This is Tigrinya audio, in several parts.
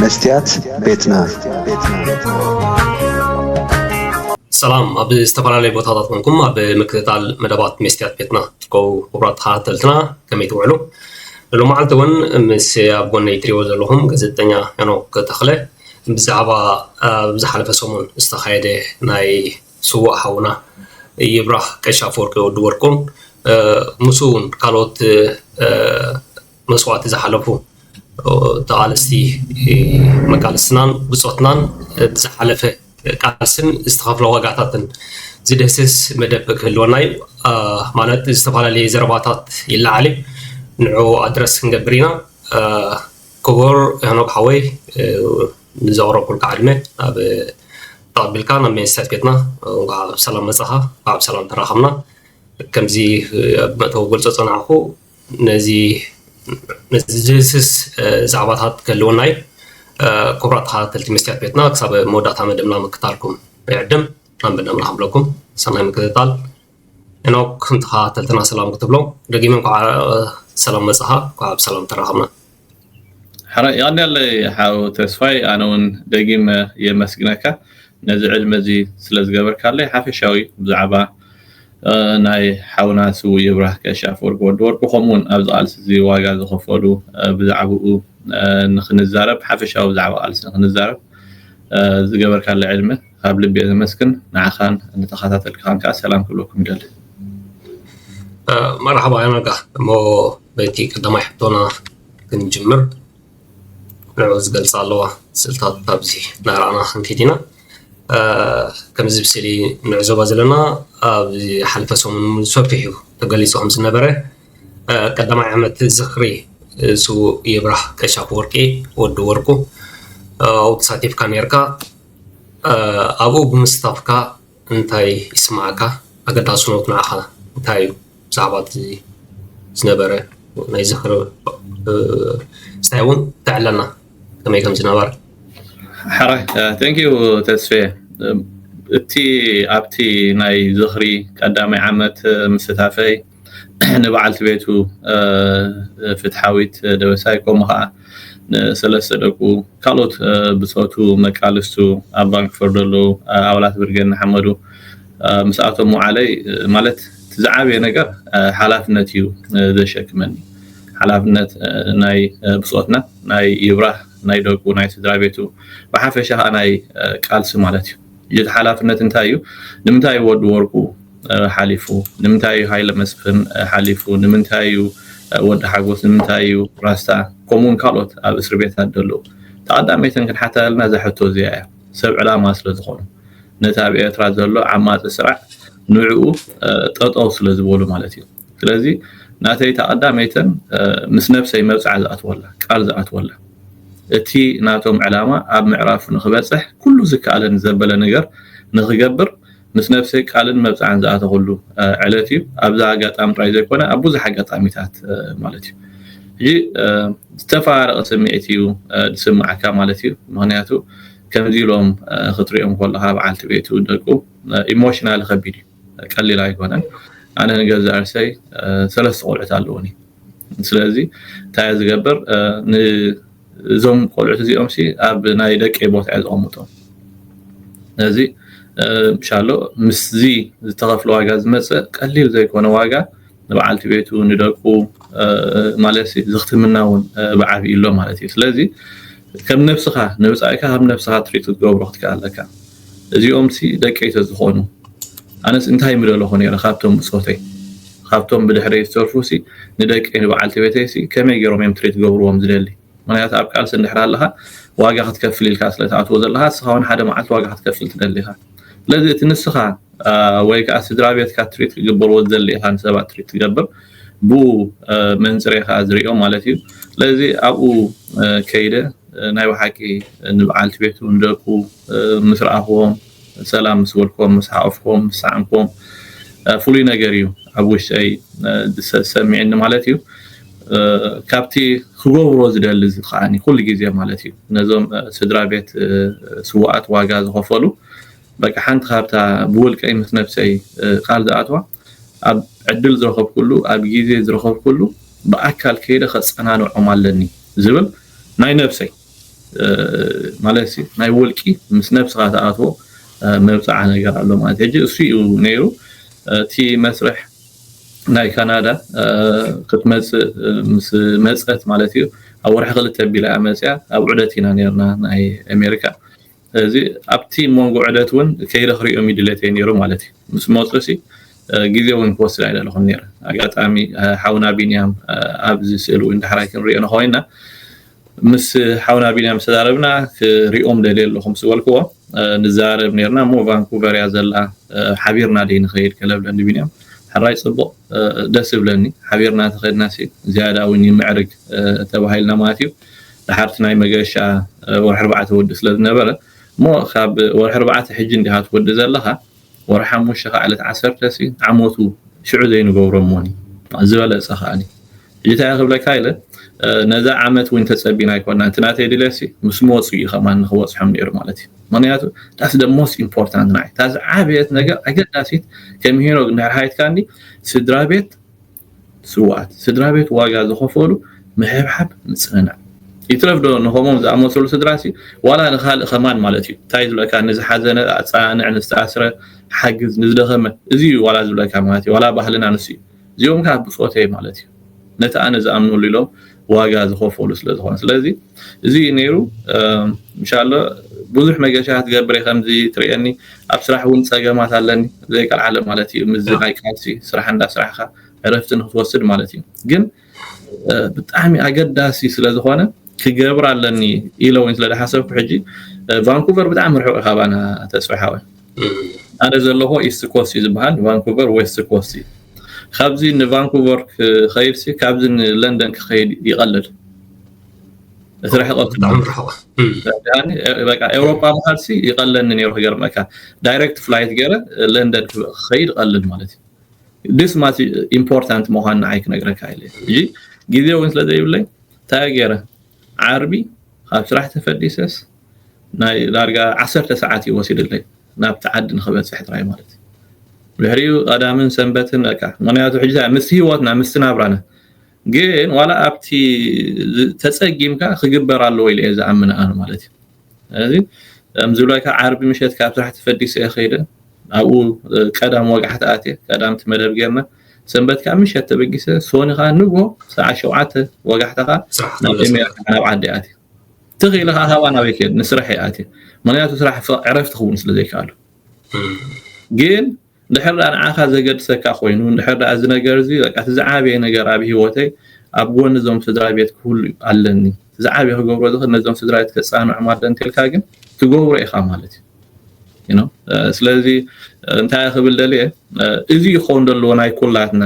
መስትያት ቤትና ሰላም ኣብ ዝተፈላለየ ቦታታት ኮንኩም ኣብ ምክትታል መደባት መስትያት ቤትና ትርከቡ ክቡራት ተኸታተልትና ከመይ ትውዕሉ ሎ መዓልቲ እውን ምስ ኣብ ጎነይ ትሪእዎ ዘለኹም ጋዜጠኛ ሄኖክ ተኽለ ብዛዕባ ኣብ ዝሓለፈ ሰሙን ዝተኻየደ ናይ ስዋእ ሓውና ይብራህ ቀሻ ኣፈወርቂ ወዲ ወርቁን ምስ እውን ካልኦት መስዋእቲ ዝሓለፉ ተቓለስቲ መቃልስትናን ብጾትናን ብዝሓለፈ ቃልስን ዝተኸፍለ ዋጋታትን ዝድህስስ መደብ ክህልወና እዩ ማለት ዝተፈላለየ ዘረባታት ይለዓል እዩ ንዑ ኣድረስ ክንገብር ኢና ክቡር ሄኖክ ሓወይ ንዘቕረብኩልካ ዕድመ ናብ ተቐቢልካ ናብ ሜንሳይት ቤትና እንኳዕ ሰላም መጻኻ እንኳዕ ሰላም ተራኸብና ከምዚ መእተዊ ገልጾ ጸናዕኹ ነዚ ዝድህስስ ዛዕባታት ክህልወና እዩ። ክቡራት ተኸታተልቲ መስትያት ቤትና ክሳብ መወዳእታ መደብና ምክታልኩም ይዕድም ናንበ ናምና ክብለኩም ሰናይ ምክትታል ሄኖክ ንተኸታተልትና ሰላም ክትብሎም ደጊመ እንኳዕ ሰላም መጻኻ እንኳዕ ብሰላም ተራኸብና። ሓራይ የቀንየለይ ሓው ተስፋይ ኣነ ውን ደጊመ የመስግነካ ነዚ ዕድመ እዚ ስለ ዝገበርካለይ ሓፈሻዊ ብዛዕባ ናይ ሓውና ስውእ ይብራህ ቀሺ ኣፈወርቂ ወዲ ወርቁ ከምኡ ውን ኣብዚ ቃልሲ እዚ ዋጋ ዝኸፈሉ ብዛዕብኡ ንኽንዛረብ ሓፈሻዊ ብዛዕባ ቃልሲ ንኽንዛረብ ዝገበርካለይ ዕድመ ካብ ልቢ እየ ዘመስግን ንዓኻን ንተኻታተልትኻን ከኣ ሰላም ክብለኩም ይደሊ። መርሓባ ኣነጋ እሞ በቲ ቀዳማይ ሕቶና ክንጅምር ንዕኡ ዝገልፃ ኣለዋ ስልታት ኣብዚ ናርኣና ክንከይድ ኢና ከምዚ ብስእሊ ንዕዘባ ዘለና ኣብ ሓልፈ ሰሙን እውን ሰፊሑ ተገሊፁ ከም ዝነበረ ቀዳማይ ዓመት ዝኽሪ ስውእ ይብራህ ቀሻ ወርቂ ወዲ ወርቁ ኣብኡ ተሳቲፍካ ነርካ ኣብኡ ብምስታፍካ እንታይ ይስምዓካ? ኣገዳስነቱ ንዓኻ እንታይ እዩ? ብዛዕባ እቲ ዝነበረ ናይ ዝኽሪ ምስታይ እውን ተዕለና ከመይ ከም ዝነበረ። ሕራይ ቴንክ ዩ ተስፌ እቲ ኣብቲ ናይ ዝኽሪ ቀዳማይ ዓመት ምስታፈይ ንበዓልቲ ቤቱ ፍትሓዊት ደበሳይ ከምኡ ከኣ ንሰለስተ ደቁ ካልኦት ብጾቱ መቃልስቱ ኣብ ባንኪ ፈርደሉ ኣባላት ብርጌድ ንሓመዱ ምስኣቶም ምውዓለይ ማለት እቲ ዝዓበየ ነገር ሓላፍነት እዩ ዘሸክመኒ ሓላፍነት ናይ ብጾትና ናይ ይብራህ ናይ ደቁ ናይ ስድራ ቤቱ ብሓፈሻ ከኣ ናይ ቃልሲ ማለት እዩ እቲ ሓላፍነት እንታይ እዩ? ንምንታይ እዩ ወዲ ወርቁ ሓሊፉ? ንምንታይ እዩ ሃይለ መስፍን ሓሊፉ? ንምንታይ እዩ ወዲ ሓጎስ? ንምንታይ እዩ ራስታ? ከምኡ ውን ካልኦት ኣብ እስሪ ቤታት ደለዉ? እቲ ቀዳመይተን ክንሓታ ዘለና እዛ ሕቶ እዚኣ እያ። ሰብ ዕላማ ስለ ዝኾኑ። ነቲ ኣብ ኤርትራ ዘሎ ዓማጺ ስራዕ ንዕኡ ጠጠው ስለ ዝበሉ ማለት እዩ። ስለዚ ናተይ እታ ቀዳመይተን ምስ ነብሰይ መብጽዓ ዝኣትወላ ቃል ዝኣትወላ እቲ ናቶም ዕላማ ኣብ ምዕራፉ ንክበጽሕ ኩሉ ዝከኣለኒ ዘበለ ነገር ንክገብር ምስ ነብሰይ ቃልን መብጽዓን ዝኣተኹሉ ዕለት እዩ ኣብዛ ኣጋጣሚ ጥራይ ዘይኮነ ኣብ ብዙሕ ኣጋጣሚታት ማለት እዩ ሕጂ ዝተፈራረቐ ስምዒት እዩ ዝስምዓካ ማለት እዩ ምክንያቱ ከምዚ ኢሎም ክትሪኦም ከለካ በዓልቲ ቤቱ ደቁ ኢሞሽናል ከቢድ እዩ ቀሊል ኣይኮነን ኣነ ንገዛ ርእሰይ ሰለስተ ቆልዑት ኣለዉኒ ስለዚ እንታይ እየ ዝገብር እዞም ቆልዑት እዚኦም ሲ ኣብ ናይ ደቂ ቦታ እየ ዝቐምጦም ነዚ ምሻሎ ምስዚ ዝተኸፍለ ዋጋ ዝመፅእ ቀሊል ዘይኮነ ዋጋ ንበዓልቲ ቤቱ ንደቁ ማለት ዝኽትምና እውን ብዓብይ ኣሎ ማለት እዩ ስለዚ ከም ነብስኻ ንብጻይካ ከም ነብስኻ ትሪት ክትገብሮ ክትክኣል ኣለካ እዚኦምሲ ደቀይ ተዝኾኑ ኣነስ እንታይ ምደለኹ ነይረ ካብቶም ብጾተይ ካብቶም ብድሕረይ ዝተርፉሲ ንደቀይ ንበዓልቲ ቤተይሲ ከመይ ገይሮም እዮም ትሪት ገብርዎም ዝደሊ ምክንያቱ ኣብ ቃልሲ እንድሕር ኣለኻ ዋጋ ክትከፍል ኢልካ ስለትኣትዎ ዘለኻ ንስኻ ውን ሓደ መዓልቲ ዋጋ ክትከፍል ትደሊ ኢኻ ስለዚ እቲ ንስኻ ወይ ከዓ ስድራ ቤትካ ትሪት ክግበርዎ ዝደሊ ኢኻ ንሰባት ትሪት ትገብር ብኡ መንፅር ኢኻ ዝሪኦ ማለት እዩ ስለዚ ኣብኡ ከይደ ናይ ብሓቂ ንበዓልቲ ቤቱ ንደቁ ምስ ረኣኽዎም ሰላም ምስ በልኩም ምስ ሓቆፍኩም ምስ ሳዓምኩም ፍሉይ ነገር እዩ ኣብ ውሽጠይ ዝሰሚዕኒ ማለት እዩ ካብቲ ክገብሮ ዝደሊ ዝከዓኒ ኩሉ ግዜ ማለት እዩ ነዞም ስድራ ቤት ስዋኣት ዋጋ ዝኸፈሉ በቃ ሓንቲ ካብታ ብውልቀይ ምስ ነብሰይ ቃል ዝኣትዋ ኣብ ዕድል ዝረኸብኩሉ ኣብ ግዜ ዝረኸብኩሉ ብኣካል ከይደ ከጸናንዖም ኣለኒ ዝብል ናይ ነብሰይ ማለት እዩ ናይ ውልቂ ምስ ነብስኻ ትኣትዎ መብጽዓ ነገር ኣሎ ማለት እዩ ሕጂ እሱ እዩ ነይሩ እቲ መስርሕ ናይ ካናዳ ክትመጽእ ምስ መጸት ማለት እዩ ኣብ ወርሒ ክልተ ኣቢላ እያ መጽያ ኣብ ዑደት ኢና ነርና ናይ ኣሜሪካ እዚ ኣብቲ ሞንጎ ዕለት ውን ከይደ ክሪኦም ዩ ድሌተይ ኔሩ ማለት ዩ ምስ መጹ ሲ ግዜ ውን ክወስድ ኣይደለኹን ኔረ ኣጋጣሚ ሓውና ቢንያም ኣብዚ ስእሊ ውን ዳሕራይ ክንሪኦ ንኾይና ምስ ሓውና ቢንያም ምስ ተዛረብና ክሪኦም ደልየ ኣለኹ ምስ በልክዎ ንዛረብ ኔርና እሞ ቫንኩቨር እያ ዘላ ሓቢርና ደይ ንኸይድ ከለብለ ንቢንያም ሕራይ ጽቡቕ ደስ ዝብለኒ ሓቢርና ተኸድና ሲ ዝያዳ ውን ይምዕርግ ተባሂልና ማለት ዩ ድሓርቲ ናይ መገሻ ወርሒ ኣርባዕተ ወዲ ስለ ዝነበረ እሞ ካብ ወርሒ ኣርባዕተ ሕጂ እንዲኻ ትወዲ ዘለኻ ወርሒ ሓሙሽተ ከኣ ዕለት ዓሰርተ ሲ ዓመቱ ሽዑ ዘይንገብሮ እሞኒ ዝበለጸ ከኣኒ ሕጂ እንታይ ክብለካ ኢለ ነዛ ዓመት እውን ተጸቢና ኣይኮና እቲ ናተይ ድልየሲ ምስ መወጽኡ እዩ ከማን ንክበጽሖም ነይሩ ማለት እዩ ምክንያቱ ዳስ ደ ሞስት ኢምፖርታንት ናይ እታ ዝዓበየት ነገር ኣገዳሲት ከም ሄኖግ እንድሕር ሃይትካኒ ስድራ ቤት ስውኣት ስድራቤት ዋጋ ዝኸፈሉ ምሕብሓብ ምጽንናዕ ይትረፍ ዶ ንኸምኦም ዝኣመሰሉ ስድራሲ ዋላ ንኻልእ ከማን ማለት እዩ ታይ ዝብለካ ንዝሓዘነ ኣጻናንዕ ንዝተኣስረ ሓግዝ ንዝደኸመ እዚ እዩ ዋላ ዝብለካ ማለት እዩ ዋላ ባህልና ንሱ እዩ እዚኦም ከኣ ብጾተይ ማለት እዩ ነቲ ኣነ ዝኣምነሉ ኢሎም ዋጋ ዝኸፈሉ ስለ ዝኾነ ስለዚ እዚ እዩ ነይሩ እንሻላ ብዙሕ መገሻ ክትገብር እየ ከምዚ ትርእየኒ ኣብ ስራሕ እውን ፀገማት ኣለኒ ዘይቀልዓለ ማለት እዩ ምዚ ናይ ቃልሲ ስራሕ እንዳስራሕካ ዕረፍቲ ንክትወስድ ማለት እዩ ግን ብጣዕሚ ኣገዳሲ ስለ ዝኾነ ክገብር ኣለኒ ኢለ እውን ስለ ዝሓሰብኩ ሕጂ ቫንኩቨር ብጣዕሚ ርሑቕ ካባና ተስፋ ሓወ ኣነ ዘለኹ ኢስት ኮስት እዩ ዝበሃል ቫንኩቨር ዌስት ኮስት እዩ ካብዚ ንቫንኩቨር ክኸይድሲ ካብዚ ንለንደን ክኸይድ ይቐልል እቲ ርሕቐት በቃ ኤውሮፓ ምኻድሲ ይቐለኒ ነይሩ ክገርመካ ዳይሬክት ፍላይት ገይረ ለንደን ክኸይድ ቀልል ማለት እዩ ድስ ማት ኢምፖርታንት ምዃን ንዓይ ክነግረካ ኢለ እጂ ግዜ እውን ስለ ዘይብለይ እንታይ ገይረ ዓርቢ ካብ ስራሕ ተፈዲሰስ ናይ ዳርጋ ዓሰርተ ሰዓት እዩ ወሲድለይ ናብቲ ዓዲ ንክበጽሕ ጥራይ ማለት እዩ ድሕሪኡ ቀዳምን ሰንበትን በቃ ምክንያቱ ሕጂ እንታይ ምስቲ ሂወትና ምስቲ ናብራና ግን ዋላ ኣብቲ ተጸጊምካ ክግበር ኣለዎ ኢለ እየ ዝኣምን ኣነ ማለት እዩ ስለዚ ከምዝብለካ ዓርቢ ምሸት ካብ ስራሕ ተፈዲሰ እየ ከይደ ኣብኡ ቀዳም ወጋሕቲ ኣትየ ቀዳምቲ መደብ ጌርና ሰንበት ካብ ምሸት ተበጊሰ ሶኒ ከዓ ንግሆ ሰዓት ሸውዓተ ወጋሕታ ከዓ ናብ ኤሜራ ናብ ዓዲ ኣትየ ትኽ ኢለ ከዓ ሳዋ ናበይ ክየድ ንስራሕ እየ ኣትየ ምክንያቱ ስራሕ ዕረፍቲ ክኸውን ስለ ዘይከኣሉ ግን ድሕር ዳኣ ንዓኻ ዘገድሰካ ኮይኑ ድሕር ዳኣ እዚ ነገር እዚ በቃ እቲ ዝዓበየ ነገር ኣብ ሂወተይ ኣብ ጎኒ እዞም ስድራ ቤት ክህሉ ኣለኒ እቲ ዝዓበየ ክገብሮ ዝኽእል ነዞም ስድራ ቤት ከጻንዖም ኣለ እንተልካ ግን ትገብሮ ኢኻ ማለት እዩ ስለዚ እንታይ ክብል ደልየ እዚ ይኸውን ዘለዎ ናይ ኩላትና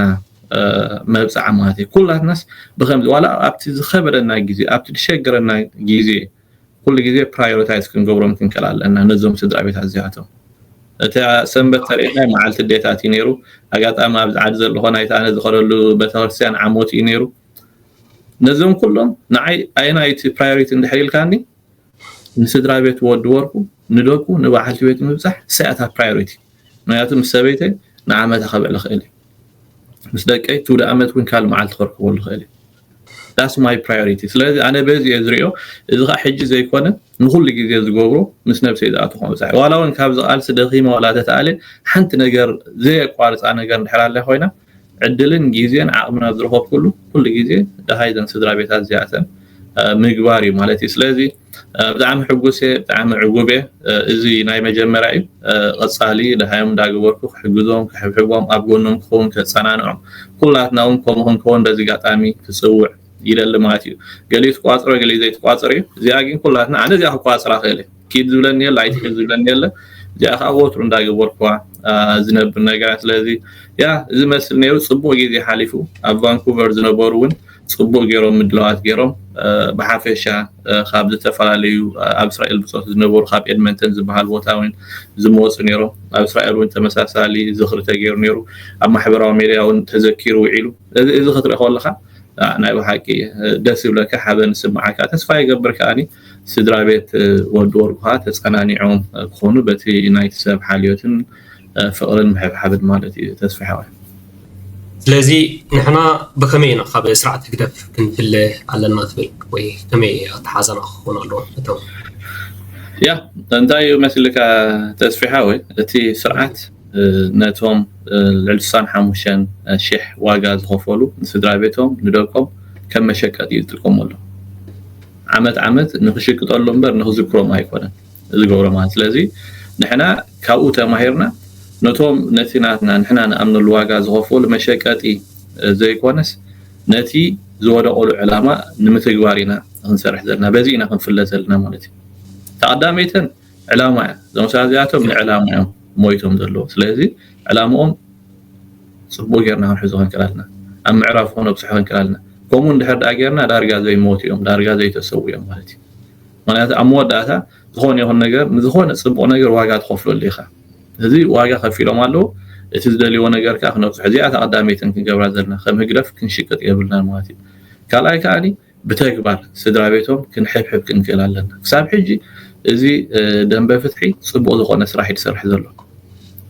መብጽዓ ማለት እዩ ኩላትናስ ብከምዚ ዋላ ኣብቲ ዝከበደና ግዜ ኣብቲ ዝሸገረና ግዜ ኩሉ ግዜ ፕራዮሪታይዝ ክንገብሮም ክንክእል ኣለና ነዞም ስድራ ቤታት እዚኣቶም እታ ሰንበት ተርእና መዓልቲ ዴታት እዩ ነይሩ ኣጋጣሚ ኣብዚ ዓዲ ዘለኾ ናይቲ ኣነ ዝኸደሉ ቤተክርስትያን ዓሞት እዩ ነይሩ ነዞም ኩሎም ንዓይ ኣየናይቲ ፕራዮሪቲ እንድሕር ኢልካኒ ንስድራቤት ወዲ ወርቁ ንደቁ ንባዓልቲ ቤቱ ምብጻሕ እሳ እያ እታ ፕራዮሪቲ ምክንያቱ ምስ ሰበይተይ ንዓመታ ከብዕል እክእል እየ ምስ ደቀይ ትውደ ኣመት ውን ካልእ መዓልቲ ከርክበሉ እክእል እየ ዳስ ማይ ፕራዮሪቲ ስለዚ ኣነ በዚ እየ ዝሪኦ እዚ ከዓ ሕጂ ዘይኮነ ንኩሉ ግዜ ዝገብሮ ምስ ነብሰይ ዝኣተኩ ምብጻሕ ዋላ ውን ካብዚ ቃልሲ ደኺመ ዋላ ተተኣልየ ሓንቲ ነገር ዘየቋርጻ ነገር እንድሕር ኣላ ኮይና ዕድልን ግዜን ዓቕምን ኣብ ዝረኸብኩሉ ኩሉ ግዜ ደሃይ እዘን ስድራቤታት እዚኣተን ምግባር እዩ ማለት እዩ ስለዚ ብጣዕሚ ሕጉስ እየ ብጣዕሚ ዕጉብ እየ እዚ ናይ መጀመርያ እዩ ቐፃሊ ደሃዮም እንዳገበርኩ ክሕግዞም ክሕብሕቦም ኣብ ጎኖም ክኸውን ከፀናንዖም ኩላትና እውን ከምኡ ክንከውን በዚ ጋጣሚ ክፅውዕ ይደሊ ማለት እዩ ገሊኡ ትቋፅሮ ገሊኡ ዘይትቋፅር እዩ እዚኣ ግን ኩላትና ኣነ እዚኣ ክቋፅራ ክእል እየ ኪድ ዝብለኒ የለ ኣይትሒድ ዝብለኒ የለ እዚኣ ከዓ ወትሩ እንዳገበርኩዋ ዝነብር ነገራ ስለዚ ያ እዚ መስል ነይሩ ፅቡቅ ግዜ ሓሊፉ ኣብ ቫንኩቨር ዝነበሩ እውን ፅቡቅ ገይሮም ምድላዋት ገይሮም ብሓፈሻ ካብ ዝተፈላለዩ ኣብ እስራኤል ብፆት ዝነበሩ ካብ ኤድመንተን ዝበሃል ቦታ እውን ዝመፁ ነይሮም ኣብ እስራኤል እውን ተመሳሳሊ ዝኽሪ ተገይሩ ነይሩ ኣብ ማሕበራዊ ሜድያ እውን ተዘኪሩ ውዒሉ እዚ እዚ ክትርኢ ከለካ ናይ ብሓቂ ደስ ይብለካ ሓበን ስምዓካ ተስፋ ይገብር ከዓኒ ስድራ ቤት ወዲ ወርቁ ከኣ ተጸናኒዖም ክኾኑ በቲ ናይቲ ሰብ ሓልዮትን ፍቕርን ምሕብሓብን ማለት እዩ ተስፍሕ ሆይ። ስለዚ ንሕና ብኸመይ ኢና ካብ ስርዓት ህግደፍ ክንፍለ ኣለና ትብል ወይ ከመይ ኣተሓሕዛና ክኸውን ኣለዎ እቶም። ያእ እንታይ እዩ መስልካ ተስፍሕ ሆይ እቲ ስርዓት ነቶም ልዕሊ ስሳን ሓሙሽተን ሽሕ ዋጋ ዝኸፈሉ ንስድራ ቤቶም ንደቆም ከም መሸቀጢ እዩ ዝጥቀመሎም። ዓመት ዓመት ንኽሽቅጠሉ እምበር ንኽዝክሮም ኣይኮነን ዝገብሮ ማለት ስለዚ ንሕና ካብኡ ተማሂርና ነቶም ነቲ ናትና ንሕና ንኣምነሉ ዋጋ ዝኸፈሉ መሸቀጢ ዘይኮነስ ነቲ ዝወደቐሉ ዕላማ ንምትግባር ኢና ክንሰርሕ ዘለና በዚ ኢና ክንፍለ ዘለና ማለት እዩ ተቐዳመይተን ዕላማ እያ እዞም ሰባት እዚኣቶም ንዕላማ እዮም ሞይቶም ዘለዎ ስለዚ ዕላምኦም ጽቡቕ ጌርና ክንሕዞ ክንክእል ኣልና ኣብ ምዕራፉ ክነብጽሖ ክንክእል ኣልና ከምኡ እንድሕር ደኣ ጌርና ዳርጋ ዘይሞቱ እዮም ዳርጋ ዘይተሰው እዮም ማለት እዩ ምክንያቱ ኣብ መወዳእታ ዝኾነ ይኹን ነገር ንዝኾነ ጽቡቕ ነገር ዋጋ ትኸፍለሉ ኢኻ እዚ ዋጋ ከፊሎም ኣለዉ እቲ ዝደልይዎ ነገር ከዓ ክነብጽሖ እዚኣ ተቐዳመይትን ክንገብራ ዘለና ከም ህግደፍ ክንሽቅጥ የብልናን ማለት እዩ ካልኣይ ከዓኒ ብተግባር ስድራቤቶም ክንሕብሕብ ክንክእል ኣለና። ክሳብ ሕጂ እዚ ደንበ ፍትሒ ጽቡቅ ዝኮነ ስራሕ እዩ ዝሰርሕ ዘሎ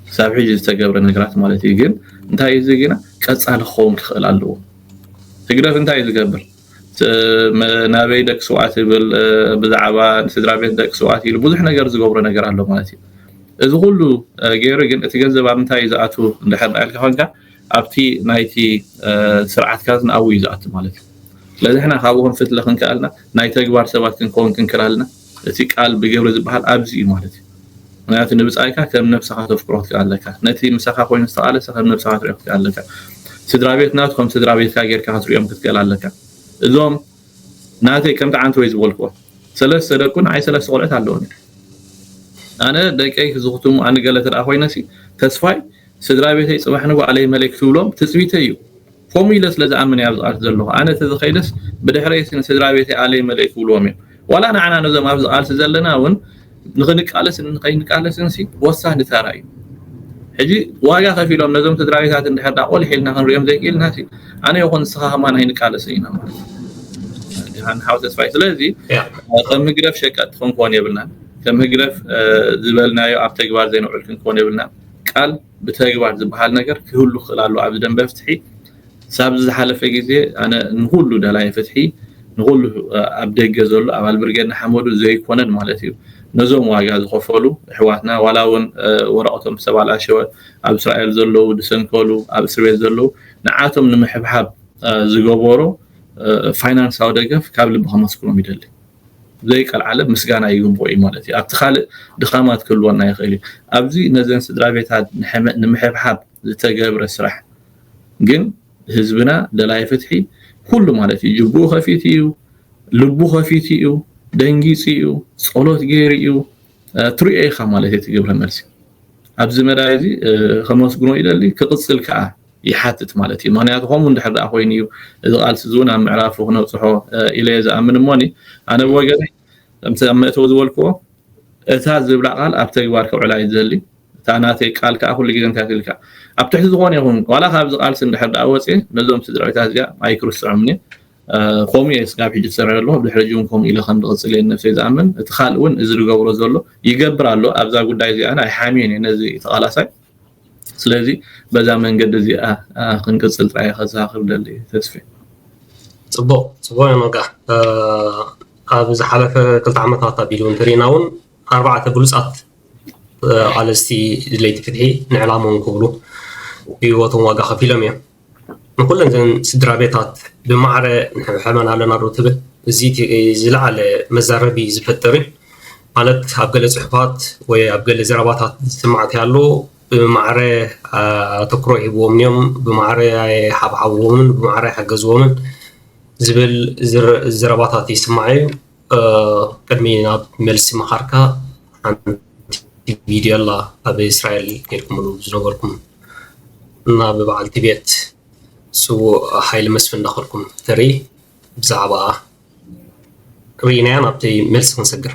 ክሳብ ሕጂ ዝተገብረ ነገራት ማለት እዩ ግን እንታይ እዩ እዚ ግና ቀጻሊ ክኸውን ክኽእል ኣለዎ። ህግደፍ እንታይ እዩ ዝገብር ናበይ ደቂ ስውኣት ይብል ብዛዕባ ስድራ ቤት ደቂ ስውኣት ኢሉ ብዙሕ ነገር ዝገብሮ ነገር ኣሎ ማለት እዩ። እዚ ኩሉ ገይሩ ግን እቲ ገንዘብ ኣብ ምንታይ እዩ ዝኣትው እንድሕር ኢልካ ኮንካ ኣብቲ ናይቲ ስርዓት ካዝና ኣብኡ እዩ ዝኣቱ ማለት እዩ። ስለዚ ሕና ካብኡ ክንፍትለ ክንክኣልና ናይ ተግባር ሰባት ክንከውን ክንክላልና እቲ ቃል ብግብሪ ዝበሃል ኣብዚ እዩ ማለት እዩ። ምክንያቱ ንብጻይካ ከም ነብሰኻ ተፍቅሮ ክትክእ ኣለካ። ነቲ ምሳኻ ኮይኑ ዝተቓለሰ ከም ነብሰኻ ትሪኦ ክትክእ ኣለካ። ስድራቤት ናቱ ከም ስድራቤትካ ጌርካ ክትሪኦም ክትክእል ኣለካ። እዞም ናተይ ከምቲ ዓንተወይ ዝበልክዎ ሰለስተ ደቁ ንዓይ ሰለስተ ቆልዑት ኣለዉኒ። ኣነ ደቀይ ዝኽትሙ ኣንገለ ተደኣ ኮይነሲ ተስፋይ ስድራቤተይ ጽባሕ ንጓዕለይ መለይ ክትብሎም ትጽቢተይ እዩ ኮሙ ኢለ ስለ ዝኣምን እየ ኣብዚ ቃልሲ ዘለኩ ኣነ ተዝከይደስ ብድሕረይስ ንስድራቤተይ ኣለይ መለይ ክብልዎም እዮም ዋላ ንዓና ነዞም ኣብዚ ቃልሲ ዘለና ውን ንክንቃለስን ንከይንቃለስን ሲ ወሳኒ ተራ እዩ ሕጂ ዋጋ ከፊሎም ነዞም ስድራቤታት እንድሕር ዳ ቆሊሕ ኢልና ክንሪኦም ዘይክኢልና ሲ ኣነ ይኹን ንስኻ ከማን ኣይንቃለስን ኢና ማለት እዩ ሓው ተስፋይ ስለዚ ከም ህግደፍ ሸቀጥ ክንኮን የብልናን ከም ህግደፍ ዝበልናዮ ኣብ ተግባር ዘይንውዕል ክንኮን የብልናን ቃል ብተግባር ዝብሃል ነገር ክህሉ ክኽእል ኣለዎ ኣብዚ ደንበ ፍትሒ ሳብዚ ዝሓለፈ ግዜ ኣነ ንኹሉ ደላይ ፍትሒ ንኹሉ ኣብ ደገ ዘሎ ኣባል ብርጌድ ንሓመዱ ዘይኮነን ማለት እዩ ነዞም ዋጋ ዝኸፈሉ ኣሕዋትና ዋላ እውን ወረቐቶም ዝተባላሸወ ኣብ እስራኤል ዘለዉ ዝሰንከሉ ኣብ እስር ቤት ዘለዉ ንዓቶም ንምሕብሓብ ዝገበሮ ፋይናንሳዊ ደገፍ ካብ ልቢ ከመስግኖም ይደሊ ዘይቀልዓለም ምስጋና ይግብኦ እዩ ማለት እዩ። ኣብቲ ካልእ ድኻማት ክህልወና ይኽእል እዩ። ኣብዚ ነዘን ስድራቤታት ንምሕብሓብ ዝተገብረ ስራሕ ግን ህዝብና ደላይ ፍትሒ ኩሉ ማለት እዩ ጅብኡ ከፊቱ እዩ፣ ልቡ ከፊቱ እዩ፣ ደንጊጹ እዩ፣ ጸሎት ገይሩ እዩ፣ ትሪኦ ኢኻ ማለት እዩ እቲ ግብረ መልሲ። ኣብዚ መዳይ እዚ ከመስግኖ ይደሊ ክቕጽል ከኣ ይሓትት ማለት እዩ። ምኽንያቱ ከምኡ እንድሕር ደኣ ኮይኑ እዩ እዚ ቃልሲ እዚ እውን ኣብ ምዕራፉ ክነብጽሖ ኢለ እየ ዝኣምን እሞኒ ኣነ ብወገነይ ከምቲ ኣብ መእተዊ ዝበልክዎ እታ ዝብላ ቃል ኣብ ተግባር ከውዕላ እዩ ዝደሊ እታ ናተይ ቃል ከዓ ኩሉ ግዜ እንታይ ትብል ከዓ ኣብ ትሕቲ ዝኾነ ይኹን ዋላ ካብዚ ቃልሲ እንድሕር ደኣ ወፅየ ነዞም ስድራቤታት እዚኣ ኣይክርስዖምን እየ ከምኡ እየ ስጋብ ሕጂ ዝሰርዐ ኣለኹ ብድሕሪ ሕጂ እውን ከምኡ ኢለ ከም ዝቕፅል እየ ነብሰይ ዝኣምን እቲ ካልእ እውን እዚ ዝገብሮ ዘሎ ይገብር ኣሎ ኣብዛ ጉዳይ እዚኣ ኣይሓምየን እየ ነዚ ተቓላሳይ ስለዚ በዛ መንገዲ እዚኣ ክንቅጽል ጥራይ እየ ከዘኻኽር ዝደሊ ተስፌ። ጽቡቕ ጽቡቕ እያ መጋ ኣብ ዝሓለፈ ክልተ ዓመታት ኣቢሉ እንተሪእና እውን ኣርባዕተ ብሉፃት ቃለስቲ ድለይቲ ፍትሒ ንዕላሞም ክብሉ ህይወቶም ዋጋ ከፊሎም እዮም ንኩለን እዘን ስድራቤታት ብማዕረ ንሕብሐበን ኣለና ዶ ትብል? እዚ እቲ ዝለዓለ መዛረቢ ዝፈጥር እዩ። ማለት ኣብ ገለ ጽሑፋት ወይ ኣብ ገለ ዘረባታት ዝስማዕ እንታይ ኣሎ፣ ብማዕረ ኣተኩሮ ኣይህብዎምን እዮም፣ ብማዕረ ኣይሓብሓብዎምን፣ ብማዕረ ኣይሓገዝዎምን ዝብል ዘረባታት ይስማዕ እዩ። ቅድሚ ናብ መልሲ ምኻርካ ሓንቲ ቪድዮ ኣላ ኣብ እስራኤል ጌርኩምሉ ዝነበርኩም ናብ በዓል ቲቤት ስዉእ ሓይሊ መስፍን እንዳኸድኩም ተርኢ ብዛዕባ ርኢናያ ናብቲ መልሲ ክንሰግር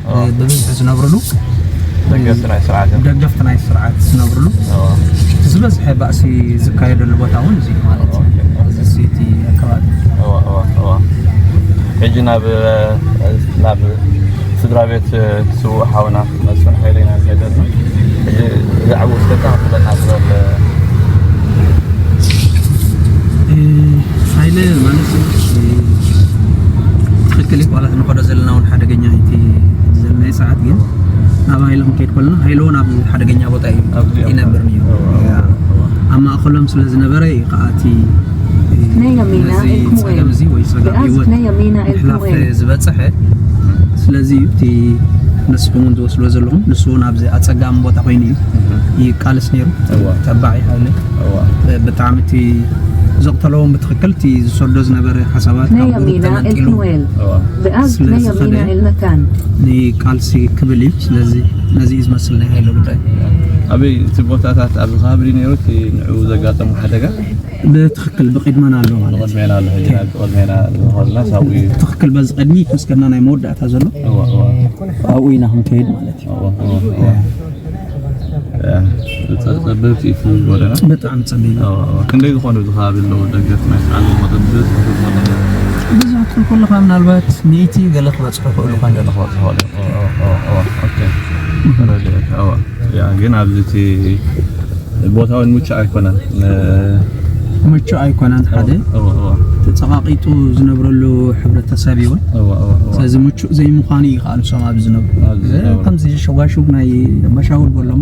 ብብዝሒ ዝነብርሉ ደገፍቲ ናይ ስርዓት እዮም። ደገፍቲ ናይ ስርዓት ዝነብርሉ ዝበዝሐ ባእሲ ዝካየደሉ ቦታ እውን እዚ ማለት እዚ ሲቲ ኣካባቢ ሕጂ ናብ ናብ ስድራ ቤት ስውእ ሓውና መስፍን ሓይለ ኢና ንኸይድ ኣለና ሕጂ ብዛዕባ ውስከታ ክፍለና ዝበል ሓይለ ማለት ትክክል እዩ ዋላ ንኸዶ ዘለና እውን ሓደገ ሓደገኛ እዩ እቲ ሕጂ ዘለናዮ ሰዓት ግን ናብ ሃይለ ክንከይድ ከለና ሃይለ እውን ኣብ ሓደገኛ ቦታ እዩ ይነብር ነይሩ ኣብ ማእኸሎም ስለ ዝነበረ እዩ ከዓ እቲ ነዚ ፀገም እዚ ወይ ፀገም ህይወት ምሕላፍ ዝበፅሐ ስለዚ እዩ እቲ ንስኹም እውን ዝወስዶ ዘለኹም ንሱ እውን ኣብዚ ኣፀጋሚ ቦታ ኮይኑ እዩ ይቃልስ ነይሩ ተባዕ እዩ ሃይለ ብጣዕሚ እቲ ዘቕተለዎም ብትኽክል እቲ ዝሰዶ ዝነበረ ሓሳባት ካብ ጉሩብ ተመንጢሉ ስለ ዝኸደ ንቃልሲ ክብል እዩ ስለዚ ነዚ እዩ ዝመስል ናይ ሃይለ ጉዳይ። ኣበይ እቲ ቦታታት ኣብ ከባቢ ድዩ ነይሩ እቲ ንዕኡ ዘጋጠሙ ሓደጋ? ብትኽክል ብቕድመና ኣሎ ማለት ብቕድሜና ኣሎ ሕጂ ናብ ብቕድሜና ዝኾንና ሳብኡ እዩ ትኽክል በዚ ቅድሚት ምስከና ናይ መወዳእታ ዘሎ ኣብኡ ኢና ክንከይድ ማለት እዩ ጸበብቲ እቲ ጎደና ብጣዕሚ ጸቢብ ክንደይ ዝኾኑ እዚ ከባቢ ኣለዉ ደገፍ ናይ ሰዓል መጠን ብዝሒ ብዙ ክትብል ከለኻ ምናልባት ሚእቲ ገለ ክበጽሑ ክእሉ ኳ እንተ ክበጽሑ ተረዲኤካ ግን ኣብዚ እቲ ቦታውን ምቹእ ኣይኮነን ምቹእ ኣይኮነን ሓደ ተፀቓቒጡ ዝነብረሉ ሕብረተሰብ እዩ ስለዚ ምቹእ ዘይምዃኑ እዩ ከዓ ንሶም ኣብ ዝነብሩ ከምዚ ሸጓሹግ ናይ ኣባሻውል በሎሞ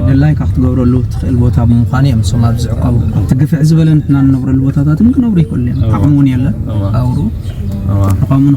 ደላይካ ክትገብረሉ ትኽእል ቦታ ብምዃኑ እዮም ንሶም ኣብ ዝዕቀቡ ኣብቲ ግፍዕ ዝበለ ንሕና ንነብረሉ ቦታታት እውን ክነብሩ ይኽእሉ እዮም ዓቕሚ እውን የለን ኣብሩ ንኸምኡ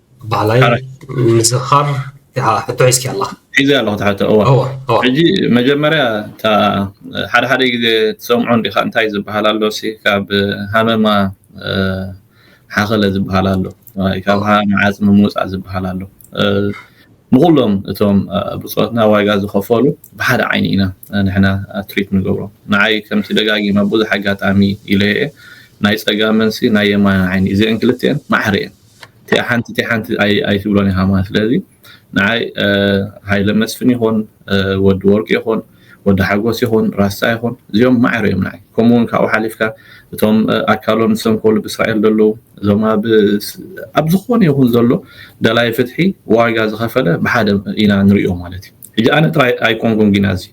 ባዕላይ ምዝኻር ሕቶ ሒዝኪ ኣለኻ ሒዘ ኣለኹ እቲ ሕቶ እወ ሕጂ መጀመርያ እታ ሓደ ሓደ ግዜ ትሰምዖ እንዲኻ እንታይ ዝበሃል ኣሎ ሲ ካብ ሃመማ ሓኸለ ዝበሃል ኣሎ ካብ ሃመማ ዓፅሚ ምውፃእ ዝበሃል ኣሎ ንኩሎም እቶም ብፆትና ዋጋ ዝኸፈሉ ብሓደ ዓይኒ ኢና ንሕና ትሪት ንገብሮ ንዓይ ከምቲ ደጋጊመ ብዙሕ ኣጋጣሚ ኢለየ ናይ ፀጋመንሲ ናይ የማን ዓይኒ እዚአን ክልቲአን ማዕረ እየን ቲኣ ሓንቲ ቲኣ ሓንቲ ኣይትብሎን ኢኻ ማለት ስለዚ ንዓይ ሃይለ መስፍን ይኹን ወዲ ወርቂ ይኹን ወዲ ሓጎስ ይኹን ራሳ ይኹን እዚኦም ማዕረ እዮም ንዓይ ከምኡ እውን ካብኡ ሓሊፍካ እቶም ኣካሎም ዝሰንኮሉ ብእስራኤል ዘለዉ እዞም ኣብ ዝኾነ ይኹን ዘሎ ደላይ ፍትሒ ዋጋ ዝኸፈለ ብሓደ ኢና ንሪኦ ማለት እዩ ሕጂ ኣነ ጥራይ ኣይኮንኩን ግና እዚ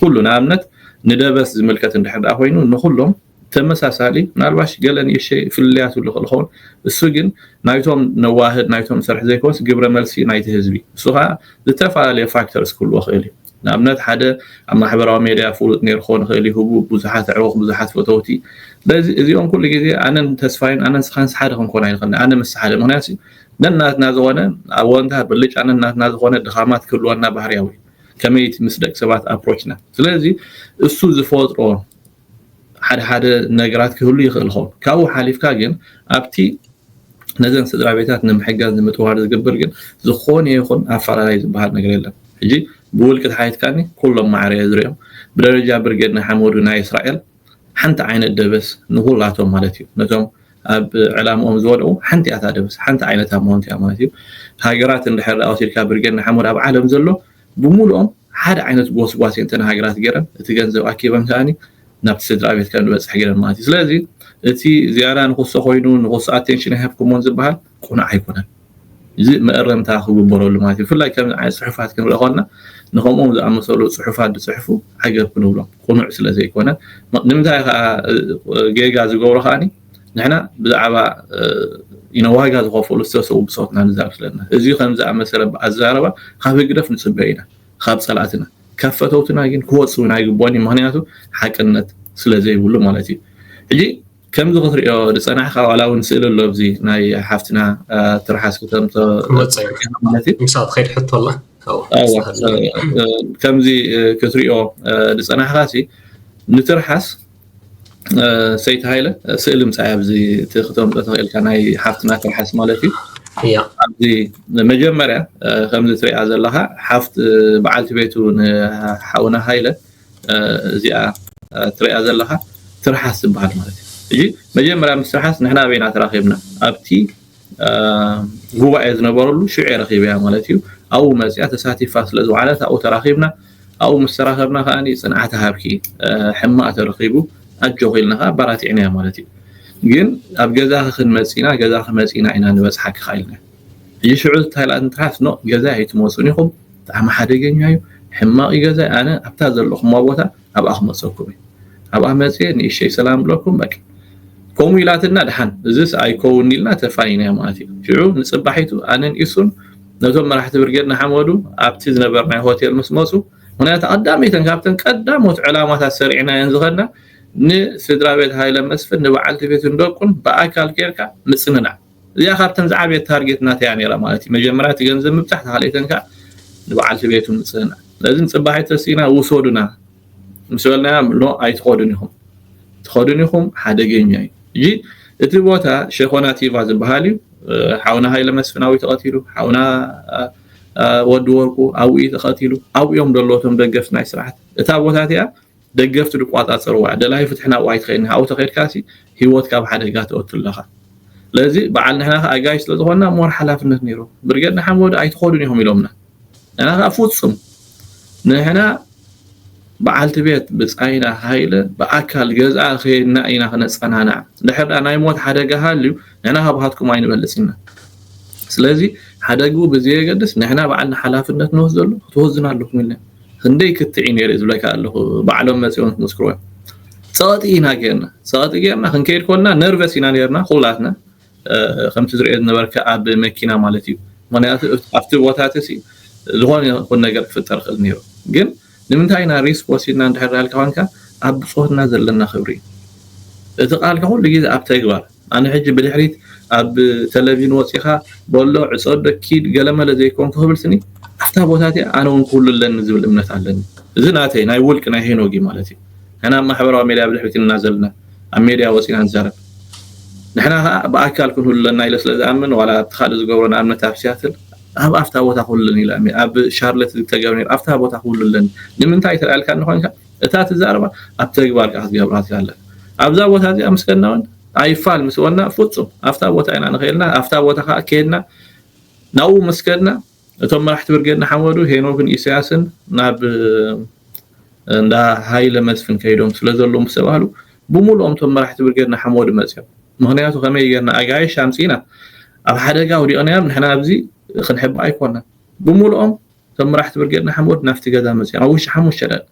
ኩሉ ንኣብነት ንደበስ ዝምልከት እንድሕር ኮይኑ ንኩሎም ተመሳሳሊ ምናልባሽ ገለ ንእሽተይ ፍልልያት ይብሉ ይኽእሉ ኸውን እሱ ግን ናይቶም ነዋህድ ናይቶም ሰርሒ ዘይኮንስ ግብረ መልሲ ናይቲ ህዝቢ እሱ ኸኣ ዝተፈላለየ ፋክተርስ ክህልዎ ክእል እዩ ንኣብነት ሓደ ኣብ ማሕበራዊ ሜድያ ፍሉጥ ነይሩ ክኾን ይኽእል እዩ ህቡብ ብዙሓት ኣዕሩኽ ብዙሓት ፈተውቲ ስለዚ እዚኦም ኩሉ ግዜ ኣነን ተስፋይን ኣነን ስኻንስ ሓደ ክንኮን ኣይንኽእልን ኣነ ምስ ሓደ ምክንያቱ ነናትና ዝኾነ ኣወንታ ብልጫ ነናትና ዝኾነ ድኻማት ክህልወና ባህርያዊ እዩ ከመይቲ ምስ ደቂ ሰባት ኣፕሮችና ስለዚ እሱ ዝፈጥሮ ሓደ ሓደ ነገራት ክህሉ ይኽእል ኾን ካብኡ ሓሊፍካ ግን ኣብቲ ነዘን ስድራ ቤታት ንምሕጋዝ ንምጥዋር ዝግብር ግን ዝኾነ ይኹን ኣፈላላይ ዝበሃል ነገር የለን ሕጂ ብውልቂ ተሓይትካኒ ኩሎም ማዕረ እየ ዝሪኦም ብደረጃ ብርጌድ ንሓመዱ ናይ እስራኤል ሓንቲ ዓይነት ደበስ ንኹላቶም ማለት እዩ ነቶም ኣብ ዕላምኦም ዝወድቑ ሓንቲ እያ ደበስ ሓንቲ ዓይነታ መሆንት እያ ማለት እዩ ሃገራት እንድሕር ወሲድካ ብርጌድ ንሓመድ ኣብ ዓለም ዘሎ ብምሉኦም ሓደ ዓይነት ጎስጓስ እየን እተን ሃገራት ገይረን፣ እቲ ገንዘብ ኣኪበን ከኣ ናብቲ ስድራቤት ከም ዝበጽሕ ገይረን ማለት እዩ። ስለዚ እቲ ዝያዳ ንኹሶ ኮይኑ ንኹሶ ኣቴንሽን ኣይሃብኩሞን ዝበሃል ቅኑዕ ኣይኮነን። እዚ መእረምታ ክግበረሉ ማለት እዩ። ብፍላይ ከምዚ ዓይነት ጽሑፋት ክንርኢ ከሎና ንከምኦም ዝኣመሰሉ ጽሑፋት ዝጽሕፉ ዓገብ ክንብሎም ቅኑዕ ስለ ዘይኮነ። ንምንታይ ከኣ ጌጋ ዝገብሮ ከኣ ንሕና ብዛዕባ ዋጋ ዝኸፈሉ ዝተሰዉ ብጾትና ንዛረብ ስለና እዚ ከምዚ ኣመሰለ ኣዛረባ ካብ ህግደፍ ንጽበ ኢና ካብ ጸላእትና ካብ ፈተውትና ግን ክወጽ ውን ኣይግብኦን እዩ ምክንያቱ ሓቅነት ስለ ዘይብሉ ማለት እዩ ሕጂ ከምዚ ክትሪኦ ዝፀናሕካ ዋላ እውን ስእሊ ኣሎ ኣብዚ ናይ ሓፍትና ትርሓስ ክተምቶ ማለት እዩ ምሳብ ትኸይድ ሕቶ ኣላ ከምዚ ክትሪኦ ዝፀናሕካ ሲ ንትርሓስ ሰይቲ ሃይለ ስእሊ ምሳይ ኣብዚ እቲ ክተምፅኦ ተኽእልካ ናይ ሓፍትና ትርሓስ ማለት እዩ ኣብዚ መጀመርያ ከምዚ ትሪኣ ዘለካ ሓፍት በዓልቲ ቤቱ ንሓውና ሃይለ እዚኣ ትሪኣ ዘለካ ትርሓስ ዝበሃል ማለት እዩ መጀመርያ ምስ ትርሓስ ንሕና ኣበይና ተራኺብና ኣብቲ ጉባኤ ዝነበረሉ ሽዑ'የ ረኺበያ ማለት እዩ። ኣብኡ መጺኣ ተሳቲፋ ስለ ዝወዓለት ኣብኡ ተራኺብና። ኣብኡ ምስ ተራኸብና ከኣ ጽንዓት እሃብኪ፣ ሕማቕ ተረኺቡ ኣጆኺ ኢልና ከኣ ኣባራቲዕናያ ማለት እዩ። ግን ኣብ ገዛኺ ክንመጽእ ኢና፣ ገዛኺ መጺእና ኢና ንበጽሓኪ ከኣ ኢልና። ሕጂ ሽዑ እንታይ ኢላትኒ ትርሓስ ኖእ ገዛይ ኣይትመጹን ኢኹም ብጣዕሚ ሓደገኛ እዩ፣ ሕማቕ እዩ ገዛይ፣ ኣነ ኣብታ ዘለኹማ ቦታ ኣብኣ ክመጸኩም እየ ኣብኣ መጽየ ንእሽተይ ሰላም እብለኩም በቃ ከምኡ ኢላትና ድሓን እዚስ ኣይከውን ኢልና ተፋኒና ማለት እዩ ሽዑ ንጽባሒቱ ኣነን ኢሱን ነቶም መራሕቲ ብርጌድ ንሓመዱ ኣብቲ ዝነበርናዮ ሆቴል ምስ መጹ ምክንያቱ ቀዳመይተን ካብተን ቀዳሞት ዕላማታት ሰሪዕናየን ዝኸድና ንስድራ ቤት ሃይለ መስፍን ንበዓልቲ ቤቱን ደቁን ብኣካል ኬርካ ምጽንናዕ እዚኣ ካብተን ዝዓበየት ታርጌት ናተይ እያ ነይራ ማለት እዩ መጀመርያ እቲ ገንዘብ ምብፃሕ ተካልኤተን ከዓ ንበዓልቲ ቤቱ ምፅእና ስለዚ ንፅባሕ ተሲእና ውሰዱና ምስ በልናያ ኖ ኣይትኸዱን ኢኹም ትኸዱን ኢኹም ሓደገኛ እዩ እጂ እቲ ቦታ ሸኾና ቲቫ ዝበሃል እዩ ሓውና ሃይለ መስፍናዊ ተቐቲሉ ሓውና ወዲ ወርቁ ኣብኡ እዩ ተቐቲሉ ኣብኡ እዮም ደለዎ እቶም ደገፍቲ ናይ ስርዓት እታ ቦታ እቲኣ ደገፍቲ ድቋጻጸርዋ ደላይ ፍትሒ ናብኣ ኣይትኸይድን ኣብኡ ተኸይድካሲ ሂወትካ ኣብ ሓደጋ ተእቱ ኣለኻ ስለዚ በዓል ንሕና ከኣ ኣጋይሽ ስለ ዝኾንና ሞር ሓላፍነት ኔሩ ብርጌድ ንሓመዱ ኣይትኸዱን ኢኹም ኢሎምና ንሕና ከኣ ፍጹም ንሕና በዓልቲ ቤት ብጻይና ሃይለ ብኣካል ገዝኣ ከይድና ኢና ክነጸናናዕ ድሕር ድኣ ናይ ሞት ሓደጋ ሃልዩ ንሕና ካብሃትኩም ኣይንበልጽ ኢና ስለዚ ሓደግኡ ብዘየገድስ ንሕና በዓልና ሓላፍነት ንወስደሉ ክትወዝኑ ኣለኩም ኢልና ክንደይ ክትዕ እዩ ነይሩ ዝብለካ ኣለኩ ባዕሎም መጺኦም ክምስክርዎ ጸቕጢ ኢና ጌርና ጸቕጢ ጌርና ክንከይድ ኮልና ነርቨስ ኢና ነርና ኩላትና ከምቲ ዝርኦ ዝነበርካ ኣብ መኪና ማለት እዩ ምክንያቱ ኣብቲ ቦታትሲ ዝኾነ ይኹን ነገር ክፍጠር ክእል ነይሩ ግን ንምንታይ ኢና ሪስክ ወሲድና እንድሕር ዳልካ ኮንካ ኣብ ብጾትና ዘለና ክብሪ እቲ ቃልካ ኩሉ ግዜ ኣብ ተግባር ኣነ ሕጂ ብድሕሪት ኣብ ተለቪን ወጺኻ በሎ ዕጸዶ ኪድ ገለመለ ዘይኮንኩ ክብል ስኒ ኣፍታ ቦታ እቲኣ ኣነ ውን ክህሉ ኣለኒ ዝብል እምነት ኣለኒ እዚ ናተይ ናይ ውልቂ ናይ ሄኖግ እዩ ማለት እዩ ንሕና ኣብ ማሕበራዊ ሜድያ ብድሕሪት እና ዘለና ኣብ ሜድያ ወጺና ንዛረብ ንሕና ከኣ ብኣካል ክንህሉ ኣለና ኢለ ስለ ዝኣምን ዋላ ኣብቲ ካልእ ዝገብሮ ንኣብነት ኣብ ሲያትል ኣብ ኣፍታ ቦታ ክህሉ ኣለኒ ኢለ ኣብ ሻርለት ዝተገብረ ነይሩ ኣፍታ ቦታ ክህሉ ኣለኒ ንምንታይ ተላልካኒ ኮንካ እታ ትዛረባ ኣብ ተግባር ከኣ ክትገብራ ትክእል ኣለካ ኣብዛ ቦታ እዚኣ ምስ ከድና እውን ኣይፋል ምስ በልና ፍጹም ኣብታ ቦታ ኢና ንክእልና ኣብታ ቦታ ከኣ ከድና ናብኡ ምስ ከድና እቶም መራሕቲ ብርጌድ ንሓመዱ ሄኖክን ኢሳያስን ናብ እንዳ ሃይለ መስፍን ከይዶም ስለ ዘለዉ ምስ ተባህሉ ብምሉኦም እቶም መራሕቲ ብርጌድ ንሓመዱ መፅኦም ምክንያቱ ከመይ ጌርና ኣጋይሽ ኣምፂና ኣብ ሓደጋ ውዲቕናዮም ንሕና ኣብዚ ክንሕባ ኣይኮናን ብምሉኦም እቶም መራሕቲ ብርጌድ ንሓመዱ ናብቲ ገዛ መጺኦም ኣብ ውሽጢ ሓሙሽተ ደቒቕ